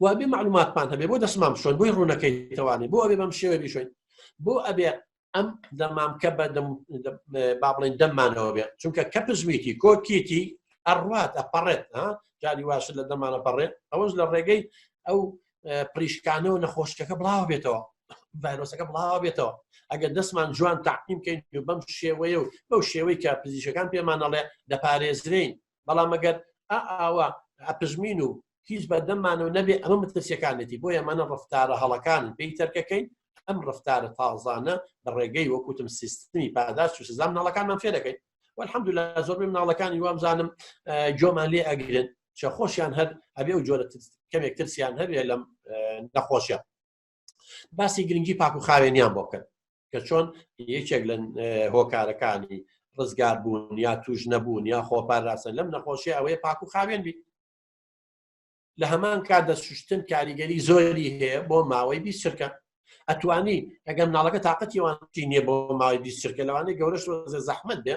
و ئەبێ معلوماتمان هەبێ بۆ دەستمان بشۆن بۆی ڕوونەکەی توانێت بۆ ئەبێ بەم شێوە بیشوین بۆ ئەبێ ئەم دەمامکە بە با بڵێن دەممانەوە بێت چونکە کە پزویتی کۆکیتی ئەڕات ئەپەڕێت جاری واش لە دەمانە پەڕێت ئەوەش لە ڕێگەی ئەو پریشکانەوە نەخۆشکەکە بڵاو بێتەوە ڤایرۆسەکە بڵاو بێتەوە ئەگەر دەستمان جوان تاقیم بکەین بەم شێوەیە و بەو شێوەی کە پزیشەکان پێمانەڵێ دەپارێزرین بەڵام ئەگەر ئا ئاوا ئەپژمین و هیچ بەردەممانەوە نەبێ ئەمە مترسیەکانێتی بۆ یەمانە ڕفتارە هەڵەکان پێی تەرکەکەین ئەم ڕفتارە تازانە لە ڕێگەی وەکوتم سیستمی پاداش و سزام ناڵەکانمان فێ دەکەین والحمد لله زۆر مناڵەکانی وام زانم جۆمان لێ ئەگرن چە خۆشیان هەر ئەبێ و جۆرە کەمێک ترسیان هەبێ لەم نەخۆشیان باسی گرنگی پاک و خاوێنیان بۆ بکەن کە چۆن یەکێک لە هۆکارەکانی ڕزگار بوون یا توش نەبوون یا خۆپاراستن لەم نەخۆشی ئەوەیە پاک و خاوێن بیت لە هەمان کات دەسوشتن کاریگەری زۆری هەیە بۆ ماوەی بی سرکە ئەتوانی ئەگەم ناڵەکە تااقەتیوانتی نیە بۆ ماوەی بی سرکە لەوانەیە گەورەش زەحمت بێ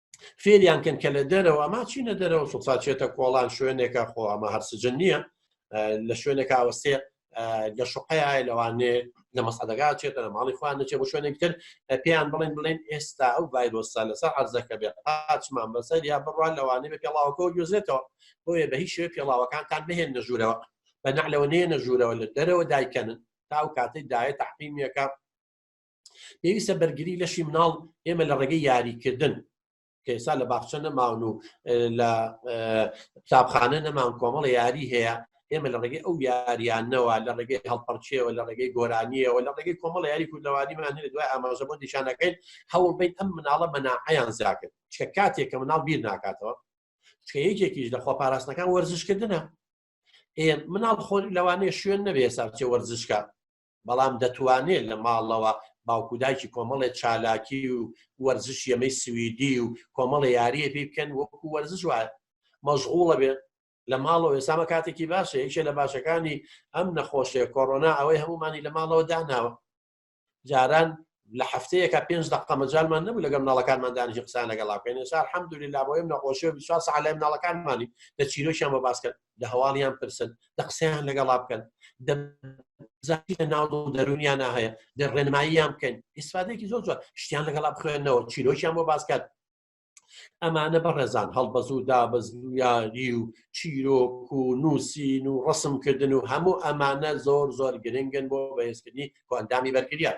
فێریان کەن کە لە دەرەوە ئەما چینە دەرەوە سوساچێتە کۆڵان شوێنێکە خۆ ئەمە هەرسجن نییە لە شوێنێک ئاوەستێ لە شوقەیە لەوانێ لە مەسەدەگا چێتە لە ماڵی خوان نەچێ بۆ شوێنێک تر پێیان بڵێن بڵێن ئێستا ئەو ڤایرۆسا لەسەر عرزەکە بێ پاچمان بەسەر یا بڕوان لەوانێ بە پێڵاوەکە و گوێزێتەوە بۆیە بە هیچ شوێ پێڵاوەکانتان بهێن نەژوورەوە بە نەعلەوە نێ نەژوورەوە لە دەرەوە دایکەنن تاو کاتەی دایە تحقیمیەکە پێویستە بەرگری لەشی مناڵ ئێمە لە ڕێگەی یاریکردن کە ئێستا لە باخچە نەماون و لە قوتابخانە نەمان کۆمەڵە یاری هەیە ئێمە لە ڕێگەی ئەو یاریانەوە لە ڕێگەی هەڵپەرچەوە لە ڕێگەی گۆرانیەوە لە ڕێگەی کۆمەڵ یاری کوردەوانیمان هەێت دوای ئاماژە بۆ دیشانەکەین هەوڵ بیت ئەم مناڵە مەناعیان زیاکرد چکە کاتێک کە مناڵ بیر ناکاتەوە چکە یەکێکیش لە خۆپاراستنەکان وەرزشکردنە مناڵ خۆری لەوانەیە شوێن نەبێ ساچێ وەرزشکە بەڵام دەتوانێت لە ماڵەوە باوکو دایکی کۆمەڵێ چالاکی و وەرزش یەمەی سویدی و کۆمەڵە یاریە پێ بکەن وەکو وەرزش وایە مەشغوڵە بێت لە ماڵەوە ئێسامە کاتێکی باشە یەکێ لە باشەکانی ئەم نەخۆشێ کۆرۆنا ئەوەی هەمومانی لە ماڵەوە داناوە جاران لە هەفتەیەکە پێنج دقە مەجالمان نەبوو لەگەم ناڵەکانمان دانیشی قسان لەگەڵاکەین سار حەمدولی لابۆیم نەخۆشی و ساعلای ناڵەکانمانی لە چیرۆکیان بە باسکرد لە هەواڵیان پرسن لە قسەیان لەگەڵا بکەن ناو دەرونیان هەیە لە ڕێنماییان بکەن ئیسفادێکی زۆر زۆر شتیان لەگەڵا بخوێنەوە چیرۆکیان بۆ باسکات ئەمانە بەڕێزان هەڵبەز و دابز و یاری و چیرۆک و نووسین و ڕسمکردن و هەموو ئەمانە زۆر زۆر گرنگن بۆ بەهێزکردنی کۆندامی بەرگریان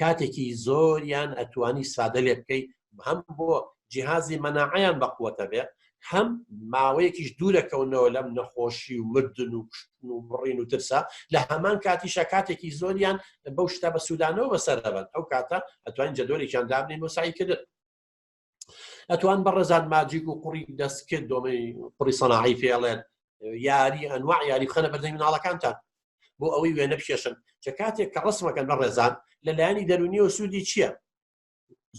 کاتێکی زۆریان ئەتوانی سادە لێ بکەی هەم بۆ جیهازی مەناعیان بەقوەتە بێ هەم ماوەیەکیش دوورەکەونەوە لەم نەخۆشی و مردن و کوشتن و بڕین و ترسا لە هەمان کاتیشە کاتێکی زۆریان بەو شتە بە سوودانەوە بەسەرەبن ئەو کاتە ئەتوانین جەدۆرێکیان دابنین بۆ سایکردن ئەتوان بە ڕێزان ماجیک و قوڕی دەستکرد دۆمەی قڕی سەناعی فێڵێن یاری ئەنوا یاری خەنە بەردەی مناڵەکانتان بۆ ئەوەی وێنە بکێشن چە کاتێک کە ڕسمەکەن بە ڕێزان لە لایەنی دەرونیەوە سوودی چییە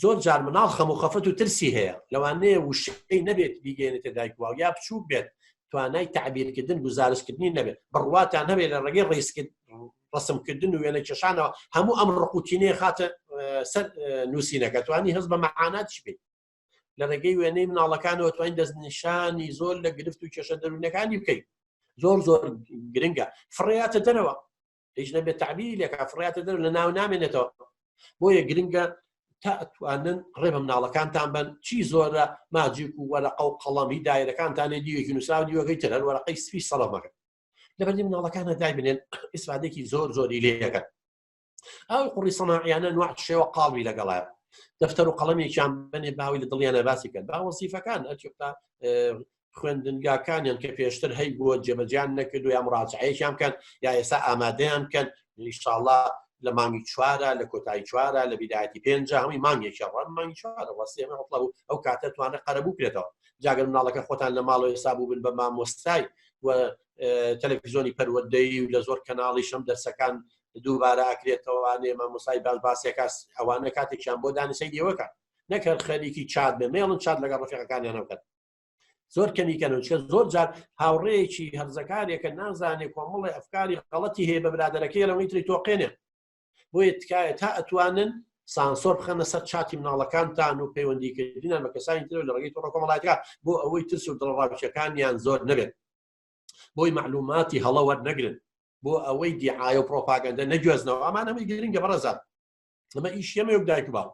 زۆر جار مناڵ خەم و خەفەت و ترسی هەیە لەوانەیە وشەی نەبێت بیگەێنێتە دایکوا یا بچوو بێت توانای تعبیرکردن گزارشکردنی نەبێت بڕواتان هەبێت لە ڕێگەی ڕیسکرد ڕسمکردن و وێنە کێشانەوە هەموو ئەم ڕقوتینەیە خاتە سەر نووسینەکە توانی هەز بە مەعاناتش بێت لە ڕێگەی وێنەی مناڵەکانەوە توانین دەستنیشانی زۆر لە گرفت و کێشە دەروونەکانی بکەیت زۆر زۆر گرنگە فڕاتە دەرەوە هیچ نەبێت تعبیری لەکە فڕاتە دەر لە ناو نامێنێتەوە بۆیە گرنگە تا ئەتوانن ڕێ بە مناڵەکانتان بن چی زۆرە ماجیک و وەرەقە و قەڵەمی دایرەکانتانێ دیوێکی نووسراو دیوەکەی تر هەر وەرەقەی سپی سەڵەمەکە لەبەردی مناڵەکانە دایبنێن ئیسرادێکی زۆر زۆری لێەکەن ئەو قڕی سەماعیانە نوع شێوە قاڵوی لەگەڵایە دەفتەر و قەڵەمێکیان بنێ باوی لە دڵیانە باسی کرد با وەسیفەکان ئەتا خوێندنگاکانیان کە پێشتر هەی بووە جێبەجیان نەکرد و یا مراجعەیەکیان بکەن یا ئێستا ئامادەیان بکەن نیشتاڵا لە مانگی چوارە لە کۆتایی چوارە لە بیداەتی پێنج هەمی مانگێکی ڕان مانگی چوارە وەسیێمە هەڵ ئەو کاتە توانە قەرەبوو کرێتەوە جاگەر مناڵەکە خۆتان لە ماڵەوە ئێستا بوو بن بە مامۆستای و تەلەفیزۆنی پەروەدەی و لە زۆر کەناڵی شەم دەرسەکان دووبارە ئاکرێتەوەوانێ مامۆسای باز باسیەکە ئەوانە کاتێکیان بۆ دانیسەی دێوەکە نەکرد خەریکی چات بێ مێڵن چات لەگەڵ ڕفەکانیان نەکەن زۆر کەمیکەن و چکە زۆر جار هاوڕێیەکی هەرزەکارێکە نازانێ کۆمەڵی ئەفکاری غەڵەتی هەیە بە برادەرەکەی لەوەی تری تۆقێنێ بۆیە تکایە تا ئەتوانن سانسۆر بخەنە سەر چاتی مناڵەکانتان و پەیوەندیکردینان بە کەسانی تر لە ڕێگەی تۆڕە کۆمەڵاتەکە بۆ ئەوەی ترس و دڵڕاوچەکانیان زۆر نەبێت بۆی معلوماتی هەڵە وەرنەگرن بۆ ئەوەی دیعاە و پرۆپاگەندە نەگوێزنەوە ئەمان ئەمەی گرنگە بەڕێزان ئەمە ئیشەمەک دایک باوە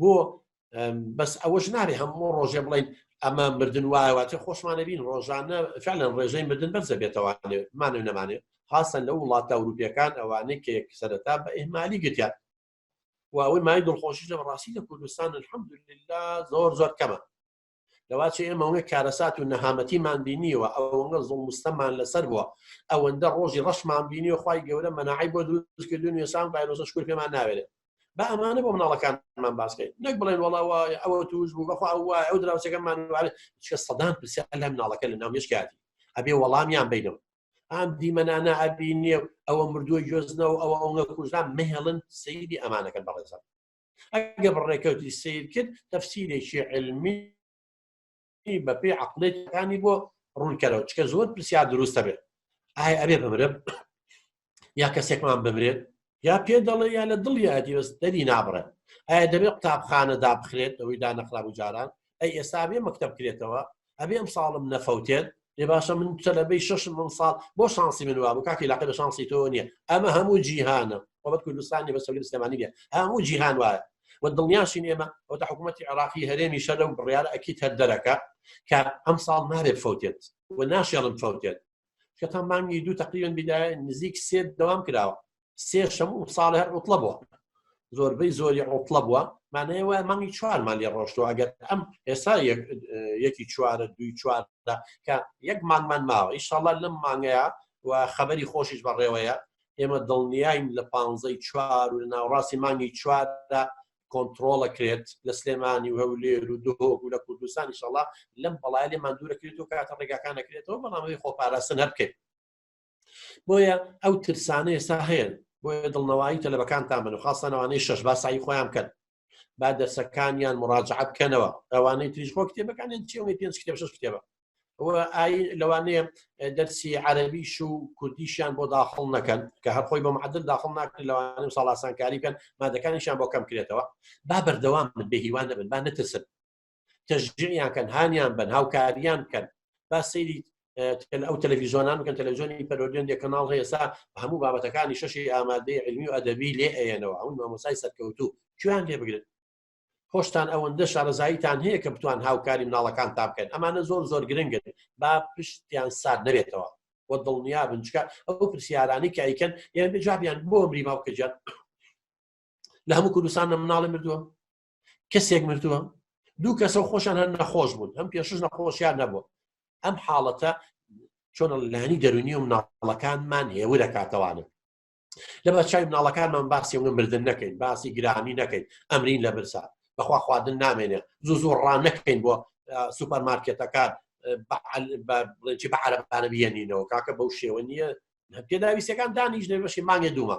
بۆ بەس ئەوەش نارێ هەموو ڕۆژێ بڵین ئەمە مردن وایەواتە خۆشمانە بین ڕۆژانە فعلەن ڕێژەی مردن بەرزە بێتەوانێ مانە نەمانێت خاصە لە وڵاتە ئەوروپیەکان ئەوانەی کە یەک سەرەتا بە ئهمالی گرتیان و ئەوەی مای دڵخۆشی لە بەڕاستی لە کوردستان الحمد لله زۆر زۆر کەمە لەواچ ئێمەوەێ کارەسات و نەهامەتیمان بینیوە ئەوەنگە زۆڵ مستەمان لەسەر بووە ئەوەندە ڕۆژی ڕەشمان بینی و خی گەورە مەناعی بۆ دروستکردون وێسان ڤایرۆسە شکر پێمان ناوێت بە ئەمانە بۆ مناڵەکانمان باسکەین نەک بڵێن وڵاوە ئەوە توش بوو بەخوا ئەوە ئەو دراوسەکەمان چە سەدان پرسیار لە مناڵەکە لە ناوێشکاتی ئەبێ وەڵامیان بینەوە ئام دیمەنانە ئەبی نیە ئەوە مردووە گوێزنەوە ئەوە ئەوە کوژان مهێڵن سەیری ئەمانەکە بەڕێزم ئەگە بڕێکەوتی سیر کرد تەفسیرێکی علمی بەپی عقلێتەکانی بۆ ڕوونکەرەوە چکە زۆر پرسیار دروستە بێت ئایا ئەبێ بمرم یا کەسێکمان بمرێت یا پێ دەڵێ یا لە دڵ یادی بەس دەری نابڕێت ئایا دەبێت قوتابخانە دابخرێت ئەوەی دانەخراب و جاران ئەی ئێستا بێ مەکتب کرێتەوە ئەبێ ئەم ساڵم نەفەوتێن لێ باشە من تەلەبەی ششم ئەم ساڵ بۆ شانسی من وابوو کاکی لاقی لە شانسی تۆ نییە ئەمە هەموو جیهانە وەبەت کوردستانی بە سەولی سلێمانی نیە هەموو جیهان وایە و دڵنیاشین ئێمە ئەوتە حکوومەتتی عراقی هەرێمی شەر لەو بڕیارە ئەکی تەر دەرەکە کە ئەم ساڵ نابێ فەوتێت و ناشێڵم فەوتێت کە تا مانگی دوو تقریبن بدایە نزیک سێت دەوام کراوە سێ شەم و ساڵێ هەر ڕوتڵە بووە زۆربەی زۆری ڕوتڵە بووە مانەیە وای مانگی چوارمان لێ ڕۆشتەوە ئەگەر ئەم ئێستا یەکی چوارە دوی چواردا کە یەک مانگمان ماوە ئیشاڵە لەم مانگەیە و خەبەری خۆشیش بەڕێوەیە ئێمە دڵنیاین لە پانزەی چوار و لە ناوڕاستی مانگی چواردا کۆنتترۆڵەکرێت لە سلێمانی و هەولێر و دهۆک و لە کوردستانی شڵا لەم بەڵای لێمان دوورەکرێت و کاتە ڕێگاکانەکرێتەوە بەڵامەوەی خۆپاراستن هەر بکەیت بۆیە ئەو ترسانە ئێستا هەیە بۆیە دڵنەوەی تەلەبەکانتان بن و خاستانەوانەی شەش باسایی خۆیان بکەن با دەرسەکانیان مراجعە بکەنەوە ئەوانەی تریش خۆ کتێبەکانیان چێوەی پێنج کتێب شش کتێبە ئای لەوانەیە دەرسی عەربیش و کوردیشیان بۆ داخڵ نەکەن کە هەر خۆی بە معدل داخڵ ناکرێت لەوانە و ساڵاسانکاری بکەن مادەکانیشان بۆ کەم کرێتەوە با بەردەوام من بێهیوان دەبن با نەترسن کە ژنیان کەن هانیان بن هاوکاریان بکەن با سەیری ئەو تەلەڤیزۆنان بکەن تەلەڤزیۆنی پەرۆدیۆن دێ کەناڵ هەیەسا هەموو بابەتەکانی شەشی ئامادەی علمی و ئەدەبی لێ ئەیەنەوە ئەو مامۆسای سەرکەوتو کوێیان لێ بگرن خۆشتان ئەوەندە شارەزاییتان هەیە کە بتوان هاوکاری مناڵەکان تا بکەن ئەمانە زۆر زۆر گرنگن با پشتیان سار نەبێتەوە و دڵنیا بنچکە ئەو پرسیارانی کە ئەیکەن یان بجابیان بۆ مری باوکەجان لە هەموو کوردستان نە مناڵی مردووە کەسێک مردووە دوو کەسە خۆشان هەر نەخۆش بوون ئەم پێشش نەخۆشیان نەبوو ئەم حاڵەتە چۆن لانی دەرونی و مناڵەکانمان هێوو دەکاتەوانە لە بەچوی مناڵەکانمان باسی ئەوە مردن نەکەین باسی گرانی نەکەین ئەمرین لە برسا بەخوا خواردن نامێنێ زوو زۆر ڕان نەکەین بۆ سوپەر مارکێتەکان بەعاعرەبانە بێنینەوە کاکە بەو شێوە نییە پێداویستەکان دانیش لێ بەشی مانگێ دوومە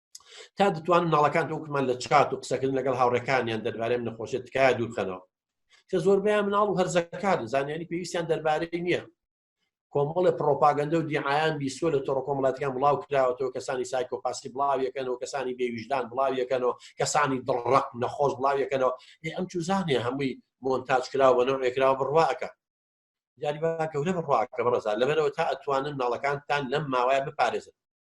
تا دەتوان ناڵەکان وکمان لە چات و قسەکردن لەگەڵ هاوڕەکانیان دەربارەم نەخۆشە تکایە دوورخەنەوە کە زۆربیان مناڵ و هەرزەکار زانیاری پێویستیان دەربارەی نییە کۆمەڵە پرۆپاگەندە و دیعاان بیسۆ لە تۆڕ کۆمەڵاتیان بڵاو کراوەەوە کەسانی سایکۆ پاسی بڵاویەکەنەوە کەسانی بێویژدان بڵاویەکەنەوە کەسانی دڕق نەخۆش بڵاویەکەنەوە ئەم چوزانێ هەمووی مۆنتاج کراوە بە نەوەێکراوە بڕواکە یاری گەورە بڕواکە بەڕزار لەبەرەوە تا ئەتوانن ناڵەکانتان لەم ماوایە بپارێزن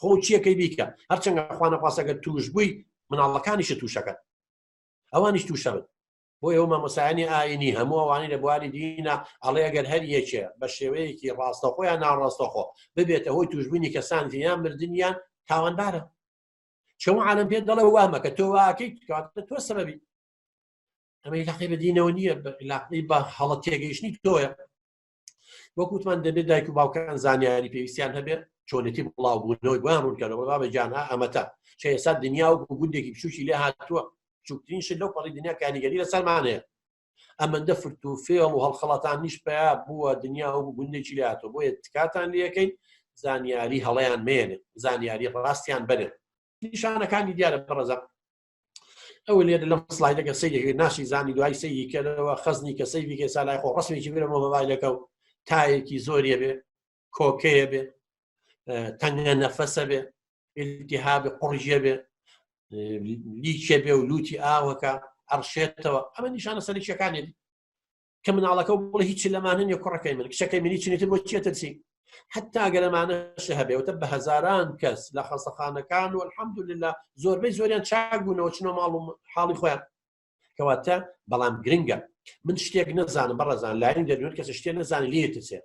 خۆ چیەکەی بیکە هەرچەنگە خوانەخواستەکە توش بووی مناڵەکانیش تووشەکەن ئەوانیش تووشەبن بۆ ئێوە مامۆسایانی ئاینی هەموو ئەوانی لە بواری دینە ئەڵێ گەر هەر یەکێ بە شێوەیەکی ڕاستەخۆیان ناڕاستەخۆ ببێتە هۆی توشببوونی کەسان یان مردیان تاوانبارە چەمە عالم پێ دەڵێ وامە کە تۆ واکەی تۆ سەبی ئەمە لاقی بە دینەوە نییە لاقی بە هەڵە تێگەیشتنی تۆیە وەکوتمان دەبێت دایک و باوکان زانیاری پێویستیان هەبێت چۆنێتی بڵاو بوونەوەی بۆیان ڕوونکەەوە بابە جانها ئەمەتا چه ئێستا دنیا و گوندێکی بچوکی لێ هاتووە چوکترین شت لەو پەڕی دنیا کاریگەری لە سەرمانەیە ئەمەندە فرت و فێڵ و هەڵخەڵاتان نیش پیا بووە دنیا و گوندێکی لێ هاتووە بۆیە تکاتان لەکەین زانیاری هەڵیان مێنێت زانیاری ڕاستیان بەرێت نیشانەکانی دیارە پڕەزە ئەو لێ لەم سلایدەکە سەیری ناشی زانی دوای سەیری کردەوە خەزنی کە سەیری کە سالای خۆ ڕسمێکی بێ مۆبایلەکە و تایەکی زۆریە بێ کۆکەیە بێ تەنگە نەفەسە بێ التهاب قڕژە بێ لیکێ بێ و لوتی ئاوەکە ئەڕشێتەوە ئەمە نیشانە سەرکیەکانێت کە مناڵەکە بڵێ هیچ لەمانە نیە کوڕەکەی من کچەکەی منی چنیتر بۆ چێتەچی حتا گەرەمانەش هەبێتە بە هزاران کەس لە خەسەخانەکان و الحمد لله زۆربەی زۆریان چاک بوونەوە چنەوە ماڵ و حاڵی خۆیان کەواتە بەڵام گرنگە من شتێک نەزانم بەڕزان لاین دەدوێت کەس شتێ نەزانانی لێتچێت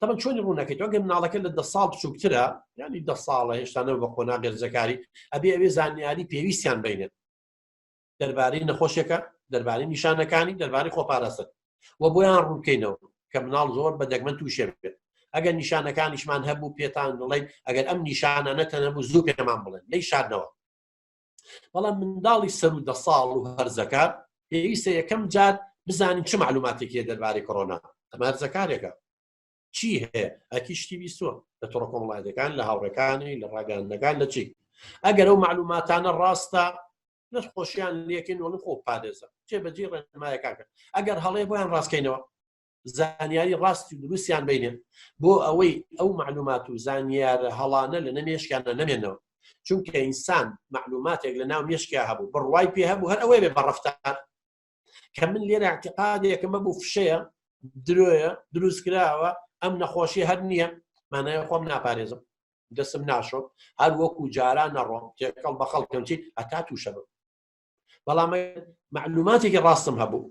تەمە چۆنی ڕوونەکەیت ئەگەر مناڵەکە لە دە ساڵ بچووکترە ینی دە ساڵە هێشتانە بە قۆنا گەرجەکاری ئەبێ ئەوێ زانیاری پێویستیان بینێت دەربارەی نەخۆشیەکە دەربارەی نیشانەکانی دەربارەی خۆپارەسەر و بۆیان ڕوونکەینەوە کە مناڵ زۆر بە دەگمەن تووشێ بێت ئەگەر نیشانەکانیشمان هەبوو پێتان دڵێن ئەگەر ئەم نیشانە نەتەنەبوو زوو پێمان بڵێن لی شاردنەوە بەڵام منداڵی سەر و دە ساڵ و هەرزەکە پێویستە یەکەم جار بزانین چ معلوماتێکی دەربارەی کۆرۆنا ئەمارزەکارێکە چی هەیە ئەکی شتی بیستوە لە تۆڕ کۆمەڵایەتەکان لە هاوڕەکانی لە ڕاگەاندەکان لە چی ئەگەر ئەو معلوماتانە ڕاستە لە خۆشیان لەکەین وڵی خۆ پارێزە جێبەجی ڕێنمایەکان کرد ئەگەر هەڵێ بۆیان ڕاستکەینەوە زانیاری ڕاستی و دروستیان بینێ بۆ ئەوەی ئەو معلومات و زانیارە هەڵانە لە نەمێشکیانە نەمێنەوە چونکە ئینسان معلوماتێک لە ناو مێشکیا هەبوو بڕوای پێ هەبوو هەر ئەوەیێ بە ڕفتار کە من لێرە اعتقادێکمە بوو فشەیە درۆیە دروست کراوە ئەم نەخۆشی هەر نییە مانای خۆم ناپارێزم دەسم ناشۆ هەر وەکو جاران نەڕۆم تێکەڵ بە خەڵکەم چی ئەتا تووشە بم بەڵام معلوماتێکی ڕاستم هەبوو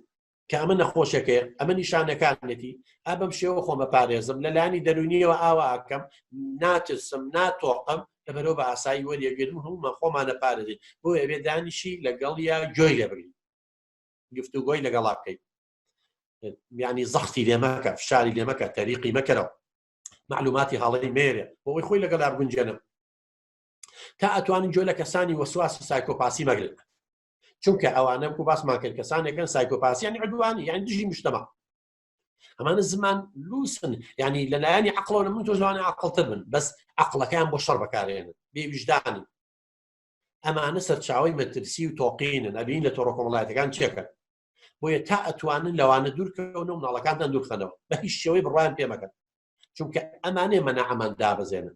کە ئەمە نەخۆشەکەی ئەمە نیشانەکانێتی ئا بەم شێوە خۆمە پارێزم لە لانی دەرونیەوە ئاواکەم ناترسم ناتۆقم لە بەرەوە بە ئاسایی وەریەگەرم هەمومان خۆمانە پارێزین بۆ ئەوێ دانیشی لەگەڵ یا گوێی لێبرین گفتوگۆی لەگەڵا بکەیت ینی زەختی لێمەکە فشاری لێمەکە تەریقی مەکەرەوە معلوماتی هەڵی مێرە بۆی خۆی لەگەڵ گونجێنم تا ئەتوانن جۆ لە کەسانی وەسواسی سایکۆپاسی مەگرن چونکە ئەوانە کو باسمان کرد کەسانێکن سایکۆپاسیانی عدوانی یان دژی مشتەما ئەمانە زمان لوسن ینی لەلایەنی عقلۆە من تۆ زمانی عقلتر بن بەس عقلەکەیان بۆ شەڕ بەکارێنن بێویژدانی ئەمانە سەرچاوی مەترسی و تۆقین نەبین لە تۆڕۆ کۆمەڵایەتەکان چێکە بۆیە تا ئەتوانن لەوانە دوورکەون و مناڵەکانتان دوورخەنەوە بە هیچ شێوەی بڕوان پێمەکەن چونکە ئەمانێ مەناعمان دابەزێنن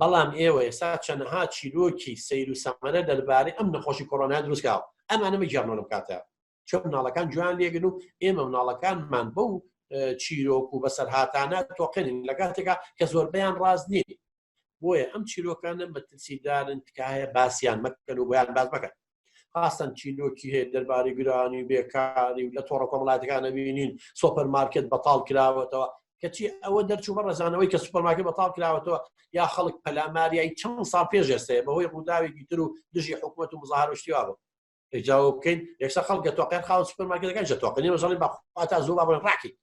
بەڵام ئێوە ئێستا چەنەها چیرۆکی سیر و سەمەرە دەربارەی ئەم نەخۆشی کۆرۆنا دروستکاو ئەمانە مەگەڕنەوە لەم کاتە چۆن مناڵەکان جوان لێگن و ئێمە مناڵەکانمان بەو چیرۆک و بەسەرهاتانە تۆقێنین لە کاتێکا کە زۆربیان ڕاز نیین بۆیە ئەم چیرۆکانە مەترسیدارن تکایە باسییان مەکەن و بۆیان باز بکەن ئاستەن چیرۆکی هەیە دەرباری گرانی و بێکاری و لە تۆڕە کۆمەڵاتەکانە بینین سۆپەر مارکت بەتاڵ کراوەتەوە کەچی ئەوە دەرچوو بە ڕزانەوەی کە سوپەرماکە بەتاڵ کراوەتەوە یا خەڵک پەلاماریایی چەند سا پێش ئێستەیە بەهۆی ڕووداوێکی تر و دژی حکوومەت و مزارشتیوا بوو ئەجاوە بکەین یەکسە خەڵکە تۆقێن خاوە سوپەرماکەەکان جە تۆقنی مەزڵی بەخواتا زۆر بابن ڕاکەین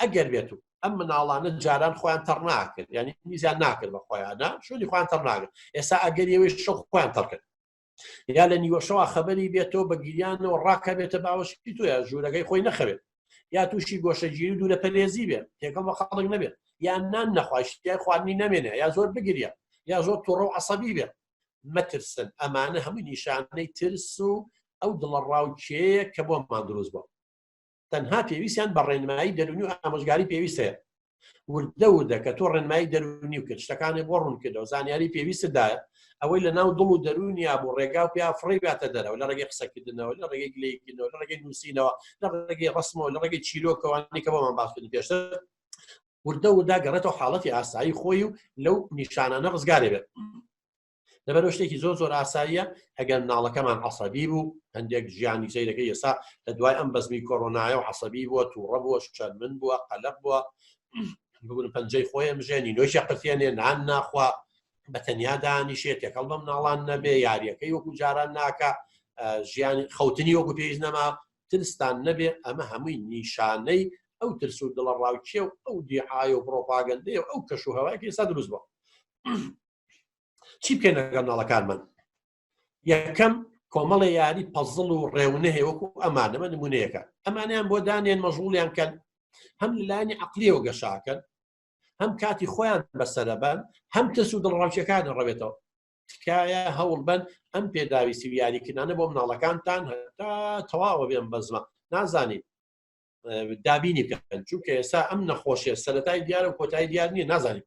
ئەگەر بێت و ئەم مناڵانە جاران خۆیان تەڕ ناکرد ینی میزیان ناکرد بە خۆیانە شوێنی خوان تەڕ ناگرن ئێستا ئەگەر ئێوەی شە خۆیان تەڕکرد یا لە نیوەشەوە خەبەری بێتەوە بە گیریانەوە ڕاکە بێتە باوەشی توە ژوورەکەی خۆی نەخەوێت یا تووشی گۆشەگیری و دوورە پەرێزی بێت تێکەڵ بە خەڵک نەبێت یان نان نەخواشتیای خواردنی نامێنێ یا زۆر بگرە یا زۆر توڕە و عسەبی بێت مەترسن ئەمانە هەمووی نیشانەی ترس و ئەو دڵە ڕاوچەیە کە بۆ مادروست بوو تەنها پێویستیان بە ڕێنمایی دەرونی و ئامۆژگاری پێویست هەیە وردە وردە کە تۆ ڕێنمایی دەرونی و کرد شتەکانی بۆ ڕوونکردەوە زانیاری پێویستدایە ئەوەی لە ناو دڵ و دەرونیا بۆ ڕێگا و پیا فڕی باتە دەرەوە لە ڕێگەی قسەکردنەوە لە ڕێگەی گلەیکردنەوە لە ڕێگەی نووسینەوە لە ڕێگەی ڕسمەوە لە ڕێگەی چیرۆکەوانی کە بۆمان باسکردن پێشتر وردە ودا گەڕێتەوە حاڵەتی ئاسایی خۆی و لەو نیشانانە ڕزگارێ بێت لەبەرەوە شتێکی زۆر زۆر ئاساییە ئەگەر ناڵەکەمان عسەبی بوو هەندێک ژیانی زەیرەکەی ئێسا لە دوای ئەم بەزمی کۆرۆنایە و عسەبی بووە تووڕە بووە شەرمن بووە قەلق بووە بگون پەنجەی خۆی ئەمژێنی نوۆشە قرتێنێ نان ناخوا بە تەنیا دانیشێ تێکەڵ بەم ناڵان نەبێ یاریەکەی وەکو جاران ناکە ژیان خەوتنی وەکو پێویست نەما ترستان نەبێ ئەمە هەمووی نیشانەی ئەو ترس و دڵە ڕاوچێ و ئەو دیعاە و پرۆپاگەندەیە ئەو کەش و هەوایکی سا دروست بوو چی بکەین لەگەڵ ناڵەکانمان یەکەم کۆمەڵە یاری پەزڵ و ڕێونەهێ وەکو ئەمانەمە نمونەیەەکە ئەمانیان بۆ دانێن مەژوڵیان کەن هەم لەلانی عقلیەوە گەشاکەن هەم کاتی خۆیان بەسەرەبان هەم تەس و دڵڕاوچەکان ڕەوێتەوە تکایە هەوڵ بن ئەم پێداویستی و یاریکردانە بۆ مناڵەکانتان هەتا تەواوە بێن بەزمە نازانین دابینی بکەن چونکە ئێستا ئەم نەخۆشیە سەتای دیارە و کۆتای دیار نیە نازانین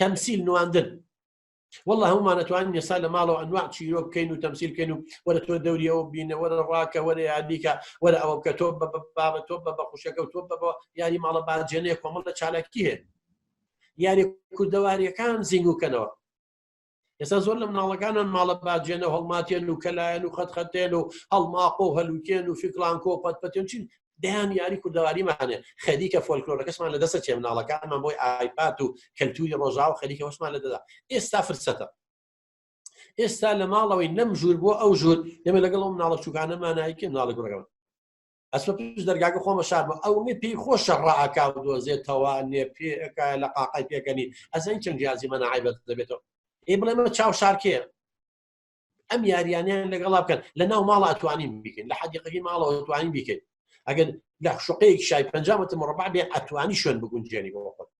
تەمسیل نواندن والله هەمومان ئەتوانین یسا لە ماڵەوە ئەنوا چیرۆ بکەین و تەمسیل بکەین و وەرە تۆ دەوریەوە بینە وەرە ڕاکە وەرە یاریکە وەرە ئەوە بکە تۆ بە بابە تۆ بە بەخوشەکە و تۆ بەەوە یاری ماڵە باجێنەیە کۆمەڵ لە چالاکی هەیە یاری کوردەواریەکان زیینگوکەنەوە ئێستا زۆر لە مناڵەکانان ماڵە باجێنە هەڵماتێن و کەلایەن و خەتخەتێن و هەڵماقۆ و هەلوکێن و فکران کۆ پەت پەتێن چین دەیان یاری کوردەواریمانێ خەریکە فۆلکلۆرەکەسمان لە دەسە چێ مناڵەکانمان بۆی ئایپات و کەلتوری ڕۆژا و خەریکە وەشمان لە دەدا ئێستا فرسەتە ئێستا لە ماڵەوەی نەم ژوور بۆ ئەو ژوور ئێمە لەگەڵ ئەو مناڵە چوکانەمانایکە مناڵە گوڕەکەمان ئەسمە پیش دەرگاکە خۆمە شارمە ئەو نێ پێی خۆشە ڕاکا و دۆزێتەوە نێ پێەکە لە قاقای پێکەنی ئەزەنگ چەند جیازی منە عیبەت دەبێتەوە ئێ بڵێ من چاو شارکێ ئەم یاریانیان لەگەڵا بکەن لە ناو ماڵ ئەتوانین بیکەین لە حەدیقەکەی ماڵەوە توانین بیکەین ئەگەر لە شقەیەک شای پنجامەتە مڕبع بێ ئەتوانی شوێن بگونجێنی بۆ خۆت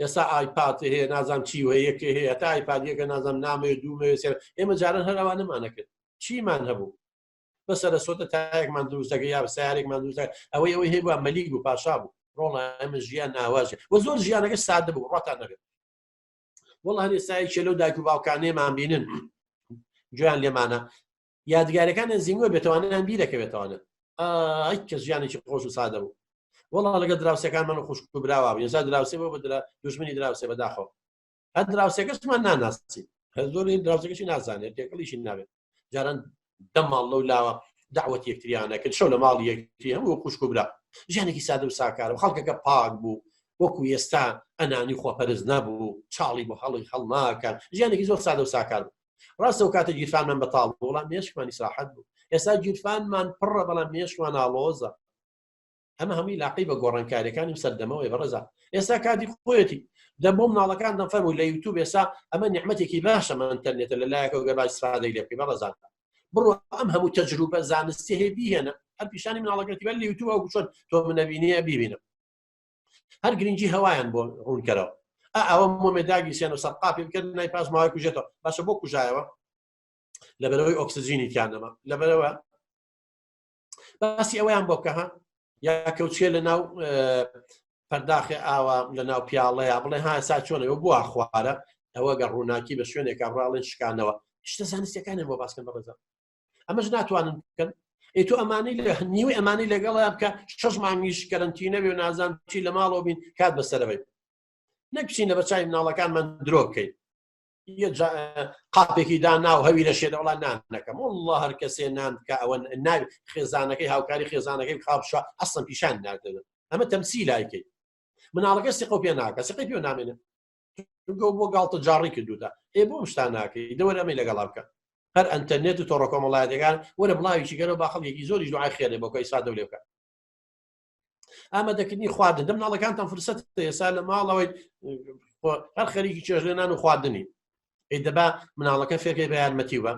ئێستا ئایپات هەیە نازانام چی هەیەکە هەیە تا ئایپادیەکە نازانام نامێ دوومێ سێر ئێمە جاران هەراوانەمانەکرد چیمان هەبوو بەسەرە سۆتە تایەکمان دروستەکە یا سیارێکمان دروستە ئەوەی ئەوەی هەیە مەلیک بوو پاشا بوو ڕۆڵە ئەمە ژیان ناواژێ وە زۆر ژیانەکە سادە بوو ڕاتان نەبێت وڵ هەنێ سایکێ لەو داکو باوکانێمان بینن جویان لێمانە یادگارەکانیان زیندوە بێت توانیان بیرەکەوێتوانە ئای کە ژیانێکی خۆش و سادە بوو وەڵا لەگە دراوسەکان من خوشک و براوە یەزا دراوسێ بۆ بدرا دژمنی دراوسێ بەداخۆ هەر دراوسەکەشمان ناناسی هەر زۆری دراوسەکەشی نازانێت تێکەڵیشی ناوێت جاران دەماڵ لەو لاوە داوەت یەکتریانە کرد شەو لە ماڵ یەکتری هەموو خوشک و برا ژیانێکی سادە و ساکارە و خەڵکەکە پاک بوو وەکو ئێستا ئەنانی خۆپەرز نەبوو چاڵی بۆ هەڵی هەڵناکە ژیانێکی زۆر سادە و ساکار بوو ڕاستە و کاتە گیرفانمان بەتاڵ بۆڵام مێشکمانی ساحەت بوو ئێستا گیرفانمان پڕە بەڵام مێشکمان ناڵۆزە ئەمە هەمووی لاقی بە گۆڕانکاریەکانی و سەردەمەوەی بەڕێزا ئێستا کاتی خۆیەتی دە بۆم ناڵەکان دەفەر و لە یوتوب ئێستا ئەمە نیحمەتێکی باشە من ئەتەرنێتە لە لایەکەوە گەبا سادەی لێ بکەی بەڕێزان بڕۆ ئەم هەموو تەجروبە زانستی هەیە بیهێنە هەر پیشانی مناڵەکەتی بەر لە یوتوب ئەو چۆن تۆ منەبینیە بیبینم هەر گرنگی هەوایان بۆ ڕوونکەرەوە ئەوە مۆمێداگی سێن و سەرقاپی بکرد نای پاس ماوەی کوژێتەوە باشە بۆ کوژایەوە لەبەرەوەی ئۆکسسیجینی تیانەما لەبەرەوە باسی ئەویان بۆ بکەها یا کەوتێ لە ناو پەرداخێ ئاوا لە ناو پیاڵەیە بڵێ ها سا چۆنەوە بووە خوارە ئەوە گە ڕووناکی بە شوێنێکە ڕاڵێن شکانەوە شتە زانستەکانیان بۆ باسکەن بەڕێزە ئەمەش ناتوانن بکەن ئەی تو ئەمانی لە نیوی ئەمانی لەگەڵیان بکە شەش مانگیش کەرنتی نەبێ و نازان چی لە ماڵەوە بین کات بەسەرەوەی نەکچینە بە چای مناڵەکانمان درۆ بکەین قاپێکی دا ناو هەوی لە شێ لەوڵان نان نەکەم والله هەر کەسێ نان بکە ئەوە ناوی خێزانەکەی هاوکاری خێزانەکەی خاپشە ئەسم پیشان ناکردن ئەمە تەمسی لایکەی مناڵەکە سقە پێ ناکە سقی پێ نامێنێ گەو بۆ گاڵتە جاڕی کردوتە ئێ بۆ شتان ناکەی دەوەر ئەمەی لەگەڵا بکە هەر ئەتەرنێت و تۆڕە کۆمەڵایەتەکان وەرە بڵاویی گەرە باخەڵێکی زۆری دوعای خێرێ بۆ کەی سادە لێ بکە ئامە دەکردنی خواردن دەم ناڵەکانتان فرسەت ئێسا لە ماڵەوەی هەر خەریکی چێژلێنان و خواردنی ئەی دەبا مناڵەکە فێرکەی بە یارمەتی بە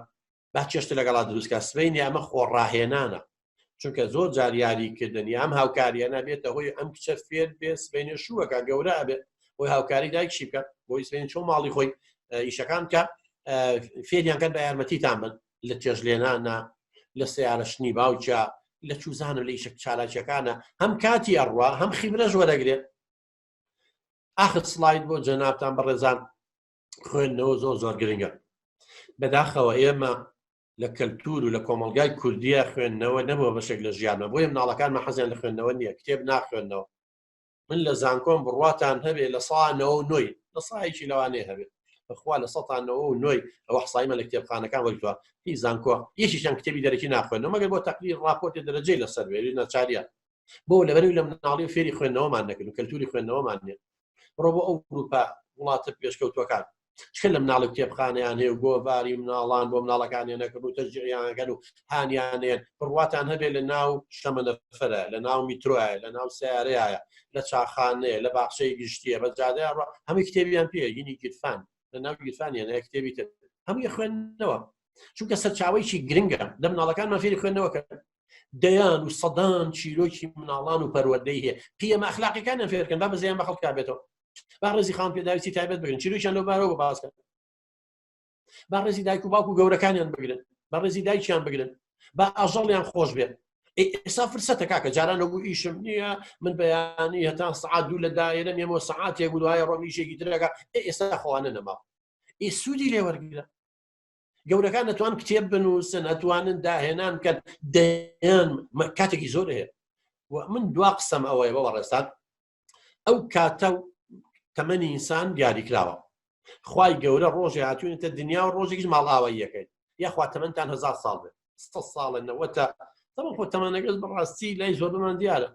با چێشتە لەگەڵا دروستکە سبینی ئەمە خۆ ڕاهێنانە چونکە زۆر جاریاری کردنی ئەم هاوکاریە نابێتە هۆی ئەم کچە فێر بێ سبینە شووەکە گەورە ئەبێت بۆی هاوکاری دایکشی بکە بۆی سبین چۆ ماڵی خۆی ئیشەکان بکە فێریانکە بە یارمەتیتان بن لە چێژ لێنانە لە سیارشنی باوچە لە چوزانە لە ئیشە چالاکیەکانە هەم کاتی ئەڕوا هەم خیبرەش وەرەگرێت ئاخر سلاید بۆ جەنابان بەڕێزان خوێندنەوە زۆر زۆر گرنگە بەداخەوە ئێمە لە کەلتور و لە کۆمەلگای کوردیە خوێندنەوە نەبووە بەشێک لە ژیانە بۆیە مناڵەکانمە حەزیان لە خوێندنەوە نییە کتێب ناخوێندنەوە من لە زانکۆم بڕواتان هەبێ لە ساانەوە و نۆی لە سایەکی لەوانێ هەبێت بەخوا لە سەانەوە و نۆی ئەوە حسایمە لە کتێبخانەکان وەرتوە هی زانکۆ یەکیشان کتێبی دەرەکی ناخوێنەوە مەگەر بۆ تەقلی ڕاپۆرتی دەرەجەی لەسەر وێری ناچاریان بۆ لەبەرو لە مناڵی و فێری خوێندنەوەمان نەکرد و کەلتوری خوێندنەوەمان نیە بڕۆ بۆ ئەو گروپە وڵاتە پێشکەوتوەکان چکە لە مناڵی کتێبخانیان هەیە و گۆڤاری مناڵان بۆ مناڵەکانیان نەکرد و تەجییانگەن و هانیانێن بڕواتان هەبێت لە ناو شەمەنەفرە لە ناو میترۆە لە ناو سیارەیە لە چاخانەیە لە باخشەی گشتیە بە جادە هەمووی کتێبیان پێ گینی گیرفان لە ناو گیرفانیان هەیە کتێبی تر هەمووی خوێندنەوە چونکە سەرچاوەیەکی گرنگە لە مناڵەکانمان فێری خوێندنەوەکە دەیان و سەدان چیرۆکی مناڵان و پەروەدەی هەیە پیەمە ئەخلاقیەکانیان فێرکەن با بەزیان بە خەڵکا بێتەوە با ڕێزی خان پێداویستی تایبەت بگرن چیرۆکیان لەو بارەوە باسکەن با ڕێزی دایک و باوک و گەورەکانیان بگرن بە ڕێزی دایکیان بگرن با ئاژەڵیان خۆش بێن ئێستا فرسەتە کاکە جاران لەبوو ئیشم نییە من بەیانی هەتا سعات دوو لە دایرە مێمەوە سعاتێک بووایە ڕۆمیشێکی درەکە ئێستا خۆوانە نەما ئی سوودی لێوەرگرە گەورەکان نەتوان کتێب بنووسن ئەتوانن داهێنان کە دەیان کاتێکی زۆر هەیە من دوا قسەم ئەوەیە بەوە ڕێستان ئەو کاتە و تەمەنی ئینسان دیاریکراوە خی گەورە ڕۆژی هاتوونێتە دنیا و ڕۆژێکیش ماڵاوای یەکەیت یاخوا تەمەندان هزار ساڵ بێت ساڵە نەوەتە تەمە خۆ تەمانەگەز بەڕاستی لای زۆرمان دیارە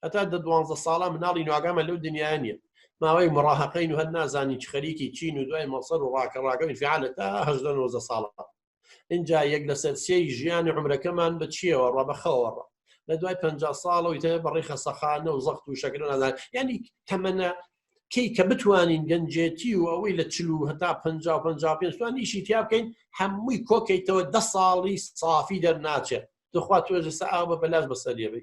هەتا دە دوانزە ساڵە مناڵی نواگامە لەو دنیا نیە ماوەی مڕاهقین و هەر نازانی چ خەریکی چین و دوای مەسەر و ڕاکە ڕاگەی فعالە تا هەدە نۆزە ساڵە اینجا یەک لەسەر سێی ژیانی عمرەکەمان بە چیەوە ڕە بەخەوەڕە لە دوای پ ساڵەوەی تە بەڕی خەسەخانە و زەخت و شەکرە نازان ینی تەمەە کی کە بتوانین گەنجێتی و ئەوەی لە چلو هەتا پ پێستوان ئیشی تیا بکەین هەمووی کۆکەیتەوە ده ساڵی سافی دەرناچێت دخوا توێژە ئاوە بەلاش بەسەریەبی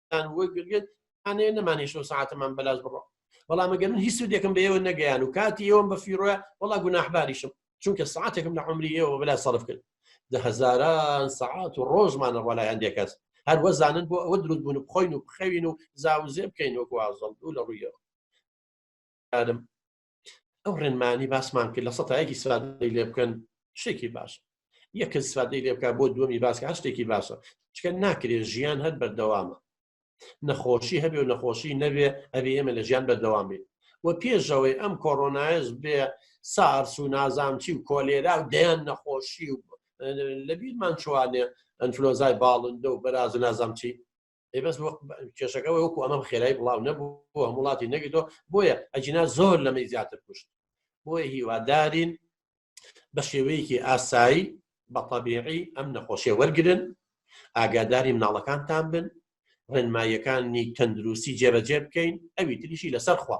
یان وەگرێت ئەێ نەمانی شۆ ساعتەمان بەلاش بڕۆ بەڵام ئەگەر من هیچ سودێکم بەێوە نەگەیان و کاتی ئێوەم بە فیرۆە وڵا گوناحباریشم چونکە ساعتێکم لە عمری ئێوە بەلا سەرف کرد دە هزاران سەعات و ڕۆژمانە ڕۆلای هەندێک کەس هەر وەزانن بۆ ئەوە دروست بوون بخۆین و بخەوین و زاوزێ بکەین وەکوازڵ دوو لە ڕوویەوە ئەو ڕێنمانی باسمان کرد لە سەتایەکی سادەی لێ بکەن شتێکی باش یەکە سادەی لێ بکە بۆ دووەمی باسکە هە شتێکی باشە چکە ناکرێت ژیان هەر بەردەوامە نەخۆشی هەبێ و نەخۆشی نەبێ ئەبێ ئێمە لە ژیان بەردەوام بێت و پێشەوەی ئەم کۆرۆنایش بێ سارس و نازانچی و کۆلێرا و دەیان نەخۆشی و لە بیرمان چوانێ ئەنفلۆزای باڵندە و بەراز و نازانچی ئەی بەس کێشەکە وەکو ئەمەم خێرای بڵاو نەبوو بۆ هەم وڵاتی نەگەیتەوە بۆیە ئەجینا زۆر لەمەی زیاتر کوشت بۆیە هیوادارین بە شێوەیەکی ئاسایی بە طبیعی ئەم نەخۆشیە وەرگن ئاگاداری مناڵەکانتان بن ڕێنماییەکانی تەندروستی جێبەجێ بکەین ئەوی تریشی لەسەر خوا